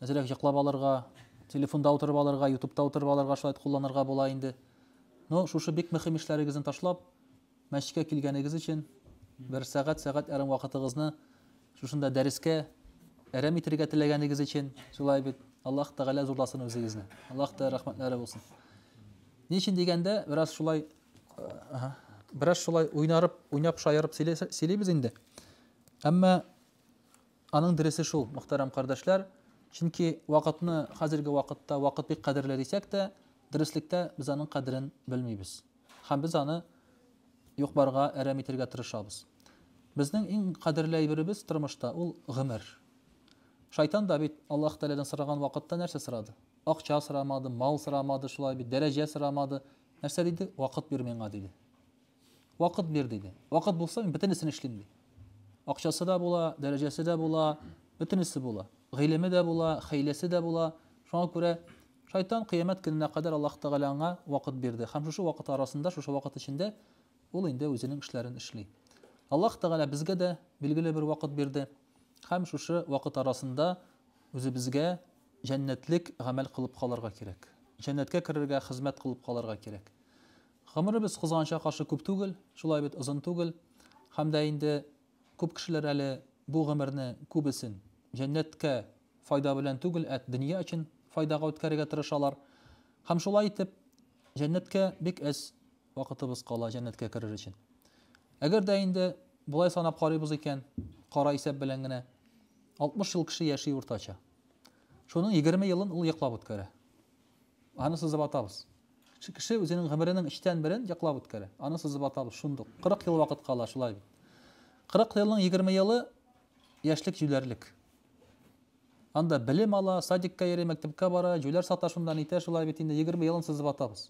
Әзрәк йоклап алырга, телефонда утырып алырга, ютубта утырып алырга шулай кулланырга була инде. Ну, шушы бик мөһим эшләрегезне ташлап, мәчеткә килгәнегез өчен бер сәгать, сәгать ярым вакытыгызны шушында дәрескә әрәм итергә теләгәнегез өчен, шулай бит. Аллаһ Тәгалә зурласын үзегезне. Аллаһ та рәхмәтләре булсын. Ни өчен дигәндә, бераз шулай бераз шулай уйнарып, уйнап шаярып сөйлибез инде. Әмма Аның дөресе шул, мөхтәрәм кардәшләр, чөнки вакытны хәзерге вакытта вакыт бик кадерле дисәк тә, дөреслектә без аның кадерен белмибез. Һәм без аны юк-барга әрәм итергә тырышабыз. Безнең иң кадерле әйберебез тормышта ул гомер. Шайтан да бит Аллаһ Тәгаләдән сораган вакытта нәрсә сорады? Акча сорамады, мал сорамады, шулай бит, дәрәҗә сорамады. Нәрсә диде? Вакыт бир миңа, диде. Вакыт бир, диде. Вакыт булса, мин бөтенесен эшлим, ди. Акчасы да була, дәрәҗәсе дә була, бөтенесе була. Гыйлеме дә була, хәйләсе дә була. Шуңа күрә шайтан кыямәт көненә кадәр Аллаһ Тәгалә аңа вакыт бирде. Һәм шушы вакыт арасында, шушы вакыт эчендә ул инде үзенең эшләрен эшли. Аллаһ Тәгалә безгә дә билгеле бер вакыт бирде. Һәм шушы вакыт арасында үзебезгә җәннәтлек гамәл кылып калырга кирәк. Җәннәткә керергә хезмәт кылып калырга кирәк. Гомеребез кызганычка каршы күп түгел, шулай бит озын түгел, һәм дә инде күп кешеләр әле бу гомерне күбесен җәннәткә файда белән түгел, ә дөнья өчен файдага үткәрергә тырышалар. Һәм шулай итеп, җәннәткә бик әз вакытыбыз кала, җәннәткә керер өчен. Әгәр дә инде болай санап карыйбыз икән, кара исәп белән генә, 60 ел кеше яши уртача. Шуның егерме елын ул йоклап үткәрә. Аны сызып атабыз. Кеше үзенең гомеренең өчтән берен йоклап үткәрә. Аны сызып атабыз, шундук. Кырык ел вакыт кала, шулай бит. Кырык елның егерме елы яшьлек җүләрлек. Анда белем ала, садикка йөри, мәктәпкә бара, җүләр сата шунда, нитә, шулай бит инде. Егерме елын сызып атабыз.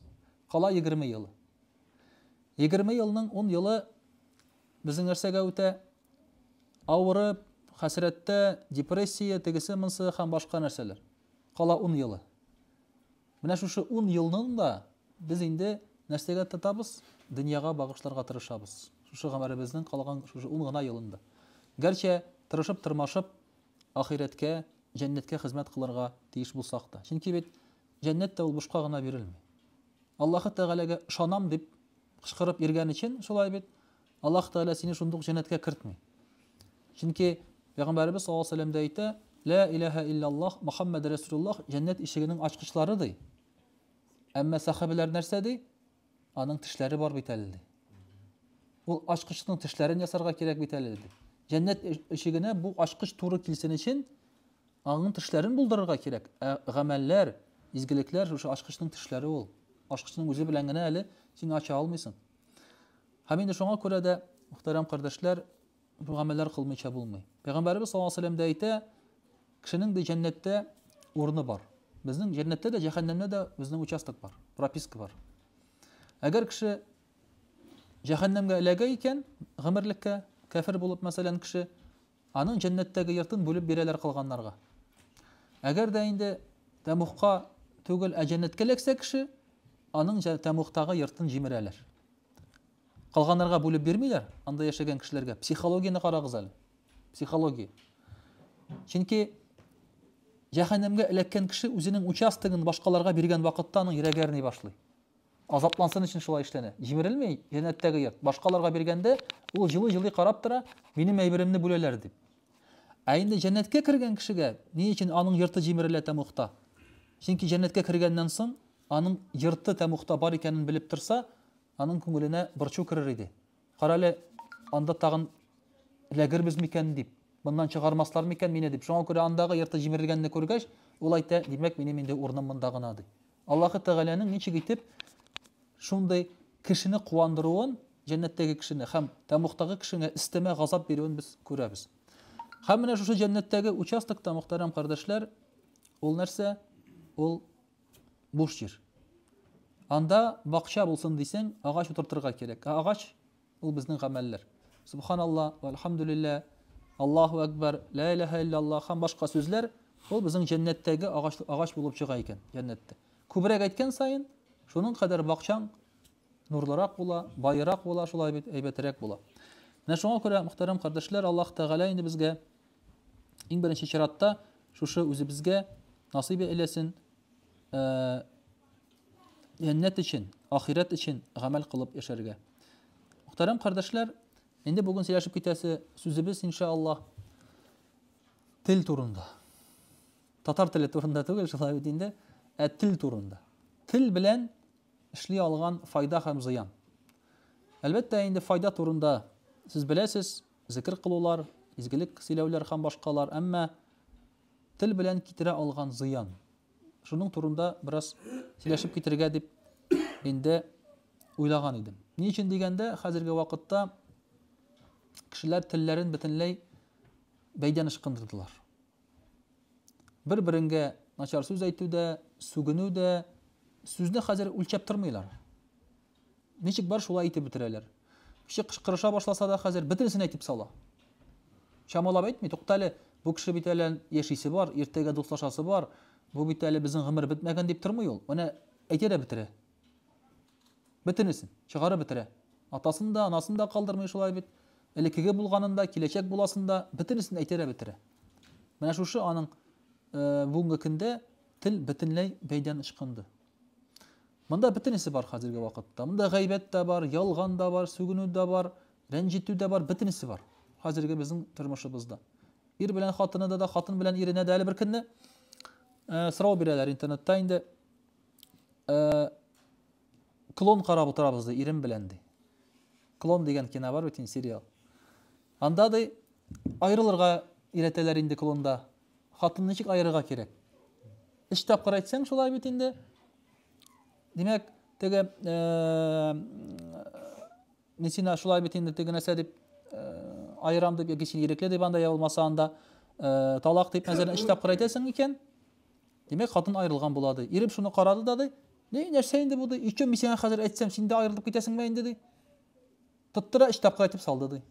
Кала егерме елы. Егерме елның ун елы безнең нәрсәгә үтә? Авырып, хәсрәттә, депрессия, тегесе-монсы һәм башка нәрсәләр. Кала ун елы. Менә шушы ун елның да без инде нәрсәгә тотабыз? Дөньяга багышларга тырышабыз. Шушы гомеребезнең калган шушы ун гына елын да. Гәрчә тырышып-тырмашып ахирәткә, җәннәткә хезмәт кылырга тиеш булсак та. Чөнки бит җәннәт тә ул бушка гына бирелми. Аллаһы Тәгаләгә ышанам дип кычкырып йөргән өчен шулай бит. Аллаһ Тәгалә сине шундук җәннәткә кертми. Чөнки Пәйгамбәребез саллаллаһу алейһи ва сәлләм дә әйтә, Лә иләһә илляллаһ Мөхәммәд Рәсулуллаһ җәннәт ишегенең ачкычлары ди. Әмма сәхабәләр нәрсә ди? Аның тешләре бар бит әле ди. Ул ачкычның тешләрен ясарга кирәк бит әле ди. Җәннәт ишегенә бу ачкыч туры килсен өчен аның тешләрен булдырырга кирәк. Ә гамәлләр, изгелекләр шушы ачкычның тешләре ул. Ачкычның үзе белән генә әле син ача алмыйсың. Һәм инде шуңа күрә дә, мөхтәрәм кардәшләр, бу гамәлләр кылмыйча булмый. Пәйгамбәребез саллаллаһу алейһи ва сәлләм дә әйтә, кешенең дә җәннәттә урыны бар. Безнең җәннәттә дә, җәһәннәмдә дә безнең участок бар, прописка бар. Әгәр кеше җәһәннәмгә эләгә икән, гомерлеккә кәфер булып мәсәлән кеше, Аның җәннәттәге йортын бүлеп бирәләр кылганнарга. Әгәр дә инде тәмугка түгел, ә җәннәткә эләксә кеше, аның тәмугтагы йортын җимерәләр. Кылганнарга бүлеп бирмиләр, анда яшәгән кешеләргә. Психологияне карагыз әле. Психология. Чөнки җәһәннәмгә эләккән кеше үзенең участогын башкаларга биргән вакытта аның йөрәге әрни башлый. Азаплансын өчен шулай эшләнә. Җимерелми җәннәттәге йорт. Башкаларга биргәндә, ул җылый-җылый карап тора, минем әйберемне бүләләр дип. Ә инде җәннәткә кергән кешегә ни өчен аның йорты җимерелә тәмугта? Чөнки җәннәткә кергәннән соң, аның йорты тәмугта бар икәнен белеп торса, аның күңеленә борчу керер иде. Карале, анда тагын эләгербез микән дип, моннан чыгармаслар микән мине дип. Шуңа күрә андагы йорты җимерелгәнне күргәч, ул әйтә, димәк, минем инде урыным монда гына, ди. Аллаһы Тәгаләнең ничек итеп шундый кешене куандыруын, җәннәттәге кешене һәм тәмугтагы кешегә өстәмә газап бирүен без күрәбез. Һәм менә шушы җәннәттәге участокта, мөхтәрәм кардәшләр, ул нәрсә? Ул буш җир. Анда бакча булсын дисең, агач утыртырга кирәк. Ә агач Ул безнең гамәлләр. Субханалла, вәлхамдүлиллә, Аллаһу әкбәр, лә иләһә илля Аллаһ һәм башка сүзләр ул безнең җәннәттәге агач, агач булып чыга икән, җәннәттә. Күбрәк әйткән саен, шуның кадәр бакчаң нурлырак була, баерак була, шулай бит әйбәтерәк була. Менә шуңа күрә, мөхтәрәм кардәшләр, Аллаһ Тәгалә инде безгә иң беренче чиратта шушы үзебезгә насыйп әйләсен, э, Җәннәт өчен, ахирәт өчен гамәл кылып яшәргә. Мөхтәрәм кардәшләр, инде бүген сөйләшеп китәсе сүзебез иншааллаһ тел турында. Татар теле турында түгел, шулай бит инде, ә тел турында. Тел белән эшли алган файда һәм зыян. Әлбәттә, инде файда турында сез беләсез, зикр кылулар, изгелек сөйләүләр һәм башкалар, әмма тел белән китерә алган зыян. шуның турында бераз сөйләшеп китергә дип инде уйлаган идем. Ни өчен дигәндә, хәзерге вакытта кешеләр телләрен бөтенләй бәйдән ышкындырдылар. Бер-береңгә начар сүз әйтү дә, сүгенү дә, сүзне хәзер үлчәп тормыйлар. Ничек бар, шулай әйтеп бетерәләр. Кеше кычкырыша башласа да хәзер бөтенесен әйтеп сала. Чамалап әйтми, туктале, бу кеше бит әле яшисе бар, иртәгә дуслашасы бар, бу бит әле безнең гомер бетмәгән дип тормый ул. Менә әйтә дә бетерә. Бөтенесен чыгарып бетерә. Атасын да, анасын да калдырмый шулай бит. Элекеге булганын да, киләчәк буласын да бөтенесен әйтә дә бетерә. Менә шушы аның бүгенге көндә тел бөтенләй бәйдән ычкынды. Монда бөтенесе бар хәзерге вакытта. Монда гайбәт тә бар, ялган да бар, сүгенү дә бар, рәнҗетү дә бар, бөтенесе бар хәзерге безнең тормышыбызда. Ир белән хатыны да, хатын белән иренә дә әле бер көнне э, сорау бирәләр интернетта инде. Э, клон карап утырабыз ди, ирем белән ди. Клон дигән кино бар бит инде сериал. Анда ди, аерылырга өйрәтәләр инде клонда. Хатынны ничек аерырга кирәк? Өч тапкыр әйтсәң, шулай бит инде. Димәк, теге э, Несина шулай бит инде теге нәрсә дип э, аерам дип яки син ирекле дип анда я булмаса анда э, талак дип мәсәлән өч тапкыр әйтәсең икән. Димәк, хатын аерылган була ди. Ирем шуны карады да ди. Ни нәрсә инде бу ди? Өчен мин сиңа хәзер әйтсәм, син дә аерылып китәсеңме инде ди. Тоттыра өч тапкыр әйтеп салды ди.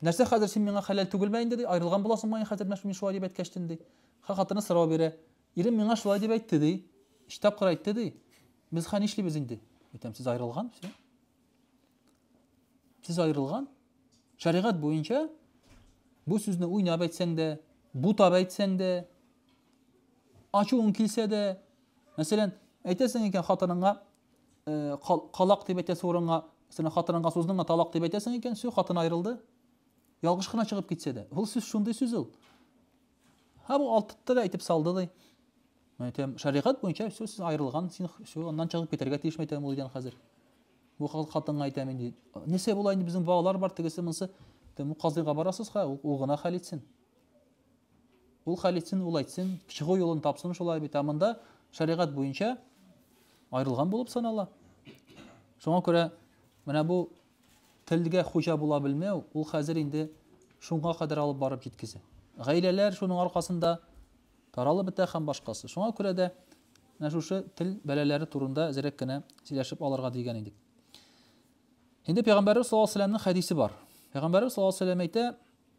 Нәрсә хәзер, син миңа хәләл түгелме инде, ди, аерылган буласыңмы ай хәзер, менә мин шулай дип әйткәчтен, ди. Хә, хатыны сорау бирә. Ирем миңа шулай дип әйтте, ди. Өч тапкыр әйтте, ди. Без хә нишлибез инде? Әйтәм, сез аерылган, все. Сез аерылган. Шәригать буенча бу сүзне уйнап әйтсәң дә, бутап әйтсәң дә, ачуың килсә дә, мәсәлән, әйтәсең икән хатыныңа, э, калак дип әйтәсе урынга сине хатыныңа суздың да талак дип әйтәсең икән все хатын аерылды ялгыш кына чыгып китсә дә ул сүз шундый сүз ул һә бу алтытты да әйтеп салды ди мен әйтәм шәригать буенча все сез аерылган син все аннан чыгып китәргә тиеш мен әйтәм ул өйдән хәзер бу хатынга әйтәм инде нәрсә була инде безнең балалар бар тегесе монысы казыйга барасыз ха ул гына хәл итсен Ул хәл итсен, ул әйтсен, чыгу юлын тапсын шулай бит. Ә монда шәригать буенча аерылган булып санала. Шуңа күрә менә бу телгә хуҗа була белмәү, ул хәзер инде шуңа кадәр алып барып җиткезе. Гаиләләр шуның аркасында таралып бетә һәм башкасы. Шуңа күрә дә менә шушы тел бәләләре турында әзерәк кенә сөйләшеп алырга дигән идек. Инде пәйгамбәрбез саллаллаһу алейһи вәсәлләмнең хәдисе бар. Пәйгамбәрбез саллаллаһу алейһи вәсәлләм әйтә,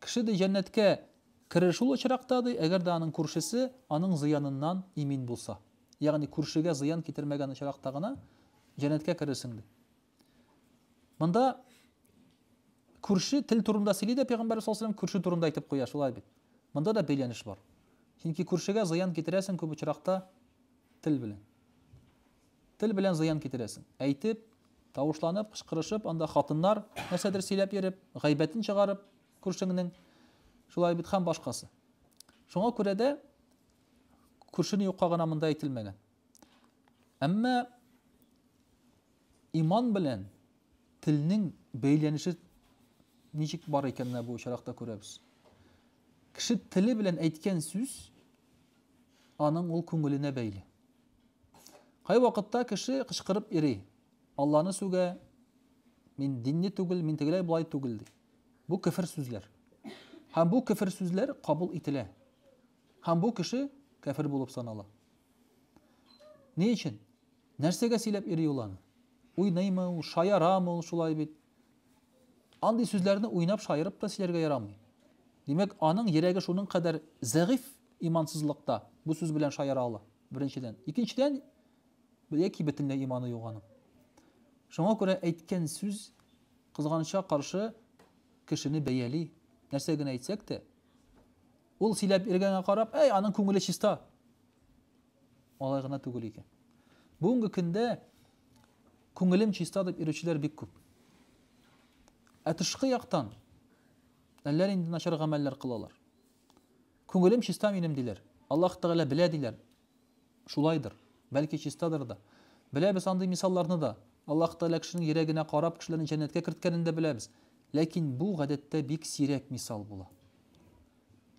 Кеше, ди, җәннәткә керер шул очракта, ди, әгәр дә аның күршесе аның зыяныннан имин булса. Ягъни күршегә зыян китермәгән очракта гына җәннәткә керерсең, ди. Монда күрше тел турында сөйли дә Пәйгамбәр саллаллаху алейһи күрше турында әйтеп куя, шулай бит. Монда да бәйләнеш бар. Чөнки күршегә зыян китерәсең күп очракта тел белән. Тел белән зыян китерәсең. Әйтеп, тавышланып, кычкырышып, анда хатыннар нәрсәдер сөйләп йөреп, гайбәтен чыгарып, күршеңнең, шулай бит һәм башкасы. Шуңа күрә дә күршене юкка гына монда әйтелмәгән. Әмма иман белән телнең бәйләнеше ничек бар икән бу очракта күрәбез. Кеше теле белән әйткән сүз аның ул күңеленә бәйле. Кайвакытта кеше кычкырып йөри, Алланы сүгә, мин динле түгел, мин тегеләй болай түгел ди. Бу кефер сүзләр. Һәм бу кефер сүзләр кабул ителә. Һәм бу кеше кәфер булып санала. Ни өчен? Нәрсәгә сөйләп йөри ул аны? Уйныймы ул, шаярамы ул шулай бит? Андый сүзләрне уйнап шаярып та сөйләргә ярамый. Димәк, аның йөрәге шуның кадәр зәгыйфь имансызлыкта бу сүз белән шаяра ала. Беренчедән. Икенчедән, яки бөтенләй иманы юк аның. Шуңа күрә әйткән сүз кызганычка каршы кешене бәяли. Нәрсә генә әйтсәк тә, ул сөйләп иргәнгә карап, әй, аның күңеле чиста. Алай гына түгел икән. Бүгенге көндә күңелем чиста дип йөрүчеләр бик күп. Ә тышкы яктан әллә нинди начар гамәлләр кылалар. Күңелем чиста минем, диләр. Аллаһ Тәгалә белә, диләр. Шулайдыр. Бәлки чистадыр да. Беләбез андый мисалларны да. Аллаһ Тәгалә кешенең йөрәгенә карап, кешеләрне җәннәткә керткәнен дә беләбез. Ләкин бу, гадәттә, бик сирәк мисал була.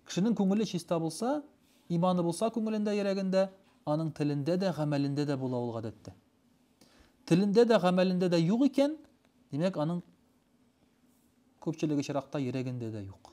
Кешенең күңеле чиста булса, иманы булса күңелендә, йөрәгендә, аның телендә дә, гамәлендә дә була ул гадәттә. Телендә дә, гамәлендә дә юк икән, димәк, аның күпчелек очракта йөрәгендә дә юк.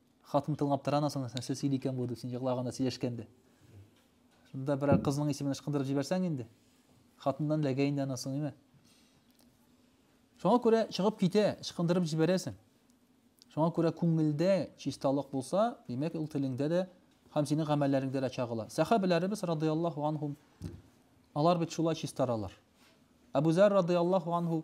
Хатын тыңлап тора аннан соң, нәрсә сөйли икән бу дип, син еглаганда, сөйләшкәндә. Шунда берәр кызның исемен ычкындырып җибәрсәң инде, хатыннан эләгә инде аннан соң, әйме? Шуңа күрә чыгып китә, ычкындырып җибәрәсең. Шуңа күрә күңелдә чисталык булса, димәк, ул телеңдә дә һәм синең гамәлләреңдә дә чагыла. Сәхабәләребез радиаллаһу анһум алар бит шулай чистаралар. Абу Зәр радиаллаһу анһу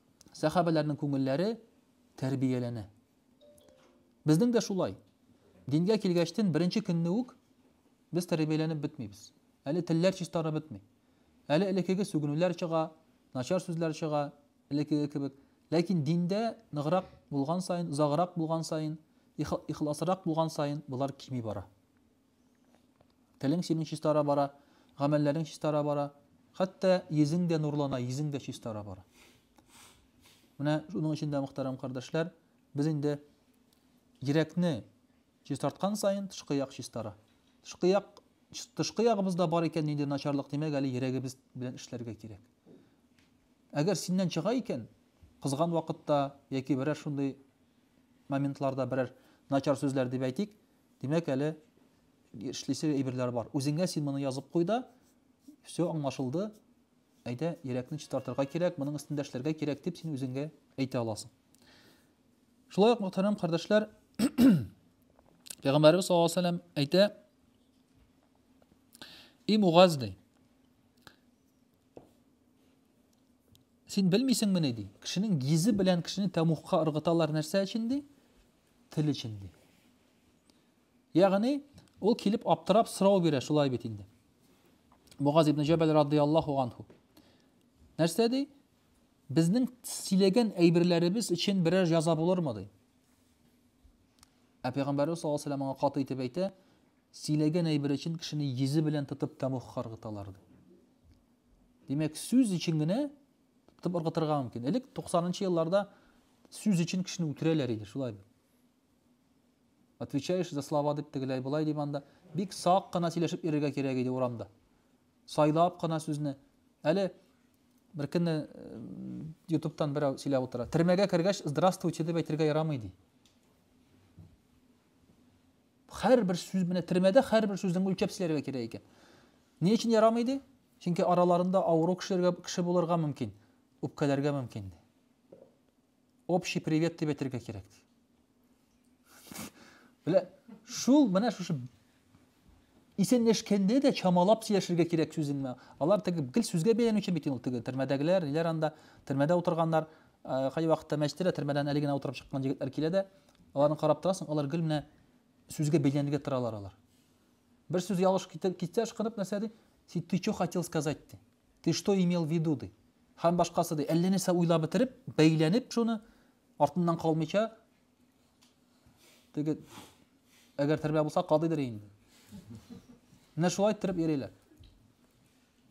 сәхабәләрнең күңелләре тәрбияләнә. Безнең дә шулай. Дингә килгәчтен беренче көнне үк без тәрбияләнеп бетмибез. Әле телләр чистарып бетми. Әле элекеге сүгенүләр чыга, начар сүзләр чыга, элекеге кебек. Ләкин диндә ныграк булган саен, узаграк булган саен, ихласрак булган саен болар кими бара. Телең синең чистара бара, гамәлләрең чистара бара, хәтта йөзең дә нурлана, йөзең дә чистара бара. Менә шуның өчен дә, мөхтәрәм кардәшләр, без инде йөрәкне чистарткан саен тышкы як чистара. Тышкы як тышкы ягыбызда бар икән нинди начарлык, димәк, әле йөрәгебез белән эшләргә кирәк. Әгәр синнән чыга икән, кызган вакытта яки берәр шундый моментларда берәр начар сүзләр дип әйтик, Димәк, әле эшлисе әйберләр бар. Үзеңә син моны язып куй да, все аңлашылды. Әйдә, йөрәкне чистартырга кирәк, моның өстендә эшләргә кирәк дип син үзеңә әйтә аласың. Шулай ук, мөхтәрәм кардәшләр, Пәйгамбәрбез саллаллаһу алейһи вәсәлләм әйтә: "И Мугаз ди, син белмисеңмени ди, кешенең йөзе белән кешене тәмухка ыргыталар нәрсә өчен ди? Тел өчен ди. Ягъни, ул килеп аптырап сорау бирә, шулай бит инде. Мугаз ибн Җәбәл радияллаһу анху. Нәрсә ди? Безнең сөйләгән әйберләребез өчен берәр яза булырмы ди? Ә пәйгамбәрбез саллаллаһу алейһи ва сәлләм аңа каты итеп әйтә, сөйләгән әйбер өчен кешене йөзе белән тотып тәмух каргыталар ди. Димәк, сүз өчен генә Тып ыргытырга мөмкин. Элек 90-нчы елларда сүз өчен кешене үтерәләр иде, шулай бит. Отвечаешь за слова дип тегеләй болай дип анда бик сак кына сөйләшеп йөрергә кирәк иде урамда. Сайлап кына сүзне. Әле бер көнне ютубтан берәү сөйләп утыра. Төрмәгә кергәч, здравствуйте дип әйтергә ярамый ди. Хәр бер сүз менә төрмәдә хәр бер сүзне үлчәп сөйләргә кирәк икән. Ни өчен ярамый ди? Чөнки араларында авыру кешеләргә кеше булырга мөмкин, үпкәләргә мөмкин, ди. Общий привет дип әйтергә кирәк, ди. Белә, шул менә шушы исәнләшкәндә дә чамалап сөйләшергә кирәк сүзен. Алар теге гел сүзгә бәйләнүче бит ул теге төрмәдәгеләр, ниләр анда төрмәдә утырганнар, кай вакытта мәчеттә төрмәдән әле генә утырып чыккан җегетләр килә дә, аларны карап торасың, алар гел менә сүзгә бәйләнергә торалар алар. Бер сүз ялгыш китә, китсә ышкынып нәрсә ди? Син ты чё хотел сказать ди. Ты что имел в виду ди. Һәм башкасы ди. Әллә нәрсә уйлап бетереп, бәйләнеп шуны, артыннан калмыйча, теге, әгәр термә булса, кадыйдыр инде. Менә шулай иттереп йөриләр.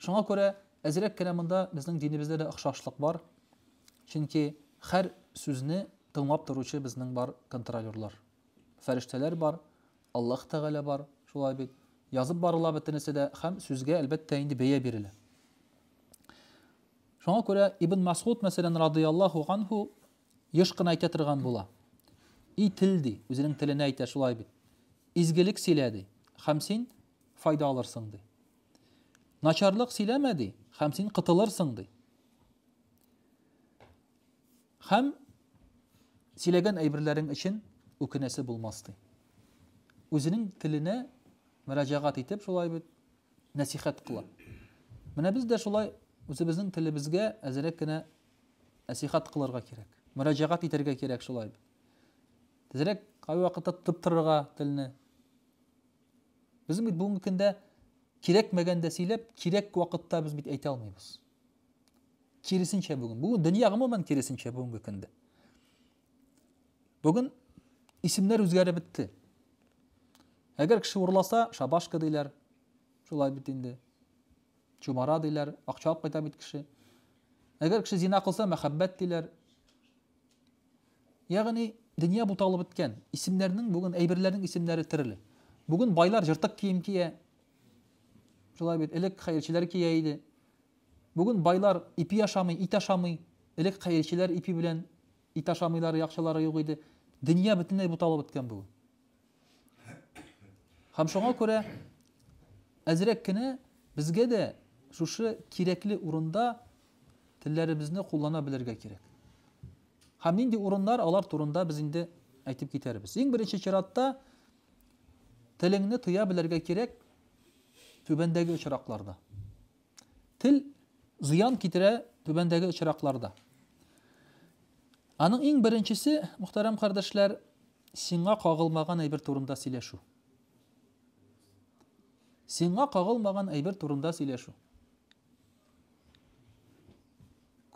Шуңа күрә әзрәк кенә монда безнең динебездә дә охшашлык бар. Чөнки һәр сүзне тыңлап торучы безнең бар контролерлар. фәрештәләр бар, Аллаһ Тәгалә бар, шулай бит. Язып барыла бөтенесе дә һәм сүзгә, әлбәттә, инде бәя бирелә. Шуңа күрә Ибн Масгуд, мәсәлән, радияллаһу анһу, еш кына әйтә торган була. И тел ди, үзенең теленә әйтә шулай бит. Изгелек сөйлә ди, һәм син файда алырсың ди. Начарлык сөйләмә ди, һәм син кытылырсың ди. Хәм сөйләгән әйберләрең өчен үкенәсе булмас ди. Үзенең теленә мөрәҗәгать итеп шулай бит нәсихәт кыла. Менә без дә шулай үзебезнең телебезгә әзерәк кенә нәсихәт кылырга кирәк. Мөрәҗәгать итәргә кирәк шулай бит. Тезрәк кай вакытта тотып торырга телне. Безнең бит бүгенге көндә кирәкмәгәндә сөйләп, кирәк вакытта без бит әйтә алмыйбыз. Киресенчә бүген. Бүген дөнья гомумән киресенчә бүгенге көндә. Бүген исемнәр үзгәреп бетте. Әгәр кеше урласа, шабашка диләр. Шулай бит инде. Чумара диләр, акча алып кайта бит кеше. Әгәр кеше зина кылса, мәхәббәт диләр. Ягъни дөнья буталып беткән. Исемнәрнең бүген әйберләрнең исемнәре төрле. Бүген байлар жыртык кием кия. Шулай бит, элек хәерчеләр кия иде. Бүген байлар ипи ашамый, ит ашамый. Элек хәерчеләр ипи белән ит ашамыйлар, акчалары юк иде. Дөнья бөтенләй буталып беткән бүген. Һәм шуңа күрә әзрәк кенә безгә дә шушы кирәкле урында телләребезне куллана белергә кирәк. Һәм нинди урыннар алар турында без инде әйтеп китәрбез. Иң беренче чиратта телеңне тоя белергә кирәк, Түбәндәге очракларда. Тел зыян китерә түбәндәге очракларда. Аның иң беренчесе, мөхтәрәм кардәшләр, сиңа кагылмаган әйбер турында сөйләшү. Сиңа кагылмаган әйбер турында сөйләшү.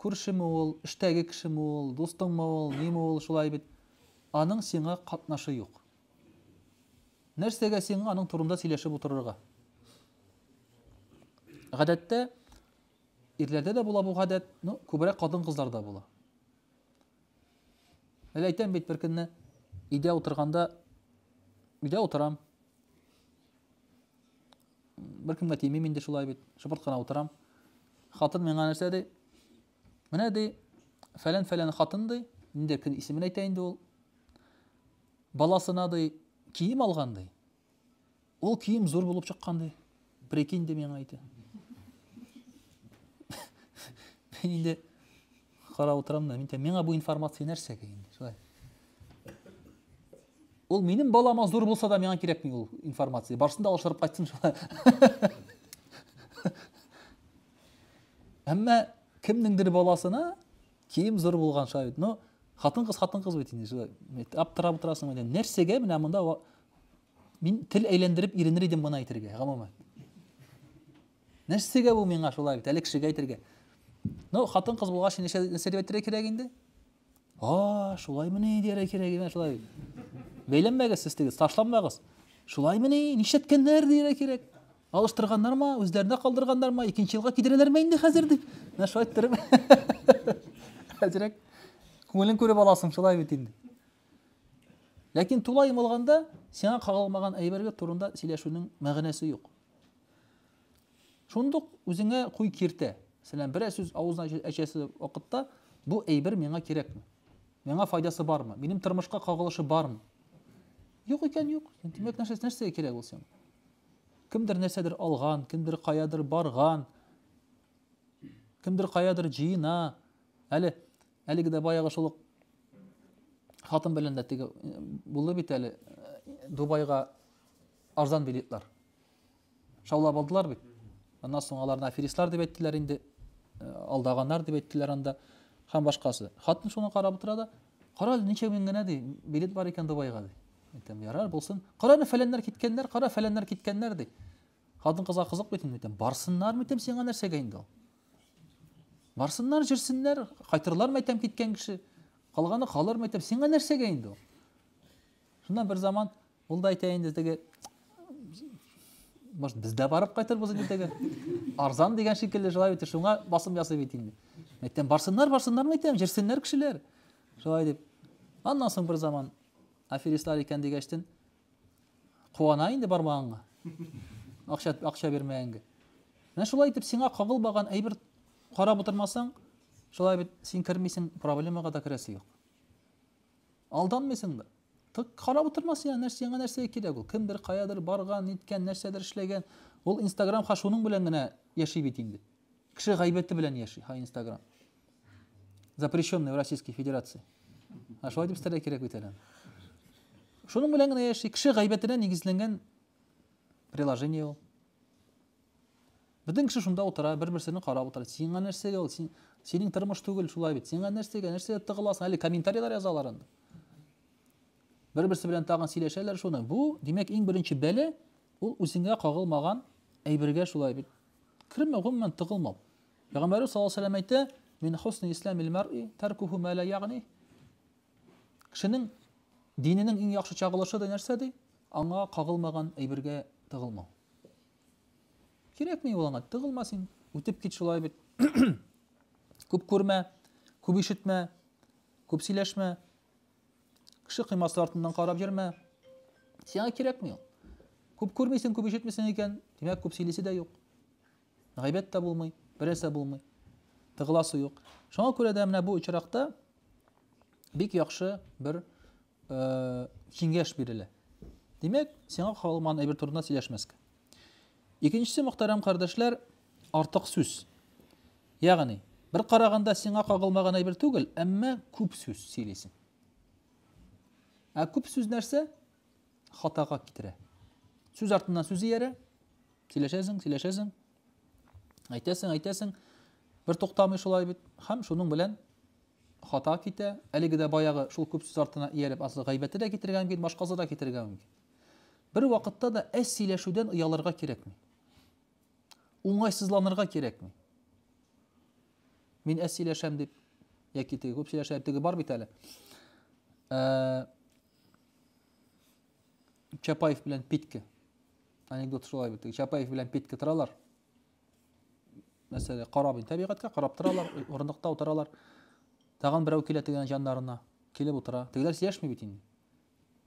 Күршеме ул, эштәге кешеме ул, дустыңмы ул, ниме ул, шулай бит. Аның сиңа катнашы юк. Нәрсәгә син аның турында сөйләшеп утырырга? Гадәттә ирләрдә дә була бу гадәт, ну, күбрәк хатын-кызларда була. Әле әйтәм бит беркөнне өйдә утырганда өйдә утырам. Беркемгә тимим инде шулай бит, шыпырт кына утырам. Хатын миңа нәрсә ди? Менә ди, фәлән-фәлән хатын ди, инде кем исемен әйтә инде ул. Баласына ди, кием алган ди. Ул кием зур булып чыккан ди. Прикинь ди миңа әйтә. Мин инде карап утырам да, мин әйтәм, миңа бу информация нәрсәгә инде? Шулай. Ул минем балама зур булса да миңа кирәкми ул информация. Барсын да алыштырып кайтсын шулай. Әмма кемнеңдер баласына кием зур булган шаһит. Ну, хатын-кыз хатын-кыз бит инде шулай. Аптырап утырасың инде. Нәрсәгә менә монда мин тел әйләндереп иренер идем моны әйтергә, гомумән. Нәрсәгә бу миңа шулай бит, әле кешегә әйтергә. Ну, хатын-кыз булгач, нәрсә нәрсә әйтергә кирәк инде? А, шулай мени дияр кирәк инде шулай. Бәйләнмәгез сез тегез, ташланмагыз. Шулай мени, нишләткәннәр дияр кирәк. Алыштырганнармы, үзләренә калдырганнармы, икенче елга кидерәләрме инде хәзер дип. Менә шулай иттереп. Әзрәк күңелен күреп аласың, шулай бит инде. Ләкин тулай йомылганда сиңа кагылмаган әйбергә турында сөйләшүнең мәгънәсе юк. Шундук үзеңә куй киртә. Мәсәлән, берәр сүз авызына әчәсе вакытта бу әйбер миңа кирәкме? Миңа файдасы бармы? Минем тормышка кагылышы бармы? Юк икән, юк. Димәк, нәрсә нәрсә кирәк ул сиңа? Кемдер нәрсәдер алган, кемдер каядыр барган, кемдер каядыр җыена. Әле әлеге дә баягы шул хатын белән дә теге булды бит әле Дубайга арзан билетлар. Шаулап алдылар бит. Аннан соң аларны аферистлар дип әйттеләр инде, алдаганнар дип әйттеләр анда һәм башкасы. Хатын шуны карап утыра да, кара әле ничә мең генә ди, билет бар икән Дубайга ди. Әйтәм, ярар булсын. Кара ни фәләннәр киткәннәр, кара фәләннәр киткәннәр ди. Хатын кызга кызык бит инде. Барсыннар митем сиңа нәрсәгә инде ул? Барсыннар, җирсеннәр, кайтырлар мәйтәм киткән кеше. Калганы калыр мәйтәм сиңа нәрсәгә инде ул? Шуннан бер заман ул да әйтә инде теге Может, без дә барып кайтырбыз инде теге. Арзан дигән шикелле шулай бит, шуңа басым ясый бит инде. Мәйтәм барсыннар, барсыннар мәйтәм, җирсеннәр кешеләр. Шулай дип, аннан соң бер заман аферистлар икән дигәчтен, куана инде бармаганга. Акча, акча бирмәгәнгә. Менә шулай итеп сиңа кагылмаган әйбер карап утырмасаң, шулай бит син кермисең, проблемага да керәсе юк. Алданмыйсың да. Тык карап утырма сиңа нәрсә, яңа нәрсә кирәк ул. Кемдер каядыр барган, ниткән, нәрсәдер эшләгән. Ул Инстаграм ха шуның белән генә яши бит инде. Кеше гайбәте белән яши ха Инстаграм. запрещенный в российской федерации а шулай дип истәрләр кирәк бит әле шуның белән генә яши кеше гайбәтенә нигезләнгән приложение ул бөтен кеше шунда утыра бер берсенә карап утыра сиңа нәрсәгә ул син синең тормыш түгел шулай бит сиңа нәрсәгә нәрсәгә тыгыласың әле комментарийлар язалар анда бер берсе белән тагын сөйләшәләр шуны бу димәк иң беренче бәле ул үзеңә кагылмаган әйбергә шулай бит кермәү гомумән тыгылмау Пәйгамбәребез саллаллаһу алейһи ва сәлләм әйтә, Мин хусни ислам илмаръи тәркуху мә лә ягъни. Кешенең диненең иң яхшы чагылышы да нәрсә ди? Аңа кагылмаган әйбергә тыгылмау. Кирәкми ул аңа, тыгылма син, үтеп кит шулай бит. Күп күрмә, күп ишетмә, күп сөйләшмә. Кеше кыймасы артыннан карап йөрмә. Сиңа кирәкми ул. Күп күрмисең, күп ишетмисең икән, димәк, күп сөйлисе дә юк. Гайбәт тә булмый, берәрсә булмый. Тыгыласы юк. Шуңа күрә дә менә бу очракта бик яхшы бер э, киңәш бирелә. Димәк, сиңа калман әйбер турында сөйләшмәскә. Икенчесе мөхтәрәм кардәшләр, артык сүз. Ягъни, бер караганда сиңа кагылмаган әйбер түгел, әмма күп сүз сөйлисең. Ә күп сүз нәрсә? хатага китерә. Сүз артыннан сүз иярә, сөйләшәсең, сөйләшәсең, әйтәсең, әйтәсең, бер туктамый шулай бит, һәм шуның белән хата китә, әлеге дә баягы шул күп сүз артына ияреп, аслы гайбәте дә китергән мөмкин, башкасы да китергән мөмкин. Бер вакытта да әз сөйләшүдән оялырга кирәкми. Уңайсызланырга кирәкми. Мин әз сөйләшәм дип, яки теге күп сөйләшә, теге бар бит әле. Ә, Чапаев белән Питке. Анекдот шулай бит. Чапаев белән Питке торалар. Мәсәлән, карап инде табигатькә, карап торалар, урындыкта утыралар. Тагын берәү килә тегенә җаннарына, килеп утыра. Тегеләр сөйләшми бит инде.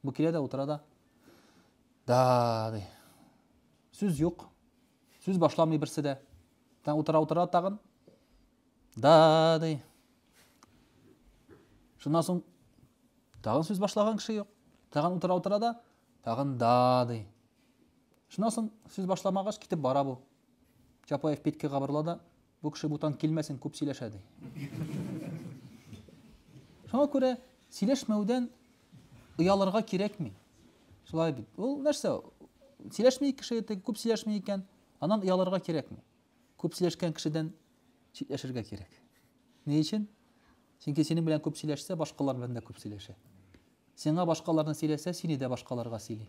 Бу килә дә утыра да. Да, ди. Сүз юк. Сүз башламый берсе дә. Тан утыра утыра тагын. Да, ди. Шуннан соң тагын сүз башлаган кеше юк. Тагын утыра утыра да тагын да ди. Шуннан соң сүз башламагач китеп бара бу. Чапаев питке кабырла да бу кеше бутан килмәсен күп сөйләшә ди. Шуңа күрә сөйләшмәүдән оялырга кирәкми. Шулай бит. Ул нәрсә? Сөйләшми кеше, күп сөйләшми икән, аннан оялырга кирәкми. Күп сөйләшкән кешедән читләшергә кирәк. Ни өчен? Чөнки синең белән күп сөйләшсә, башкалар белән дә күп сөйләшә. Сиңа башкаларны сөйләсә, сине дә башкаларга сөйли.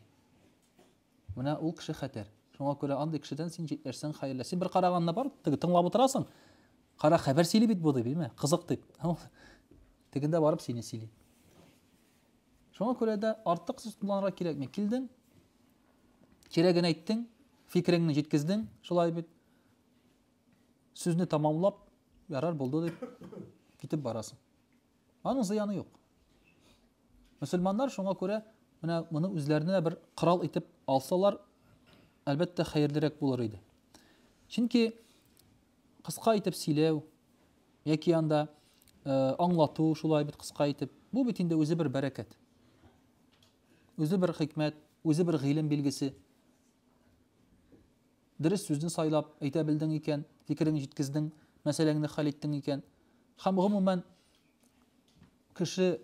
Менә ул кеше хәтәр. Шуңа күрә андый кешедән син читләшсәң хәерле. Син бер караганны бар, теге тыңлап утырасың. Кара хәбәр сөйли бит бу дип, билме? Кызык дип. Тегендә барып сине сөйли. Шуңа күрә дә артык сүз кулланырга кирәкми. Килдең, Кирәген әйттең, фикереңне җиткездең, шулай бит. Сүзне тамамлап, ярар булды дип китеп барасың. Аның зыяны юк. Мөселманнар шуңа күрә менә моны үзләренә бер корал итеп алсалар, әлбәттә хәерлерәк булыр иде. Чөнки кыска итеп сөйләү яки анда э, аңлату шулай бит кыска итеп, бу бит инде үзе бер бәрәкәт. Үзе бер хикмәт, үзе бер гыйлем билгесе. Дөрес сүзне сайлап әйтә белдең икән, фикереңне җиткездең, мәсьәләңне хәл иттең икән. Һәм гомумән кеше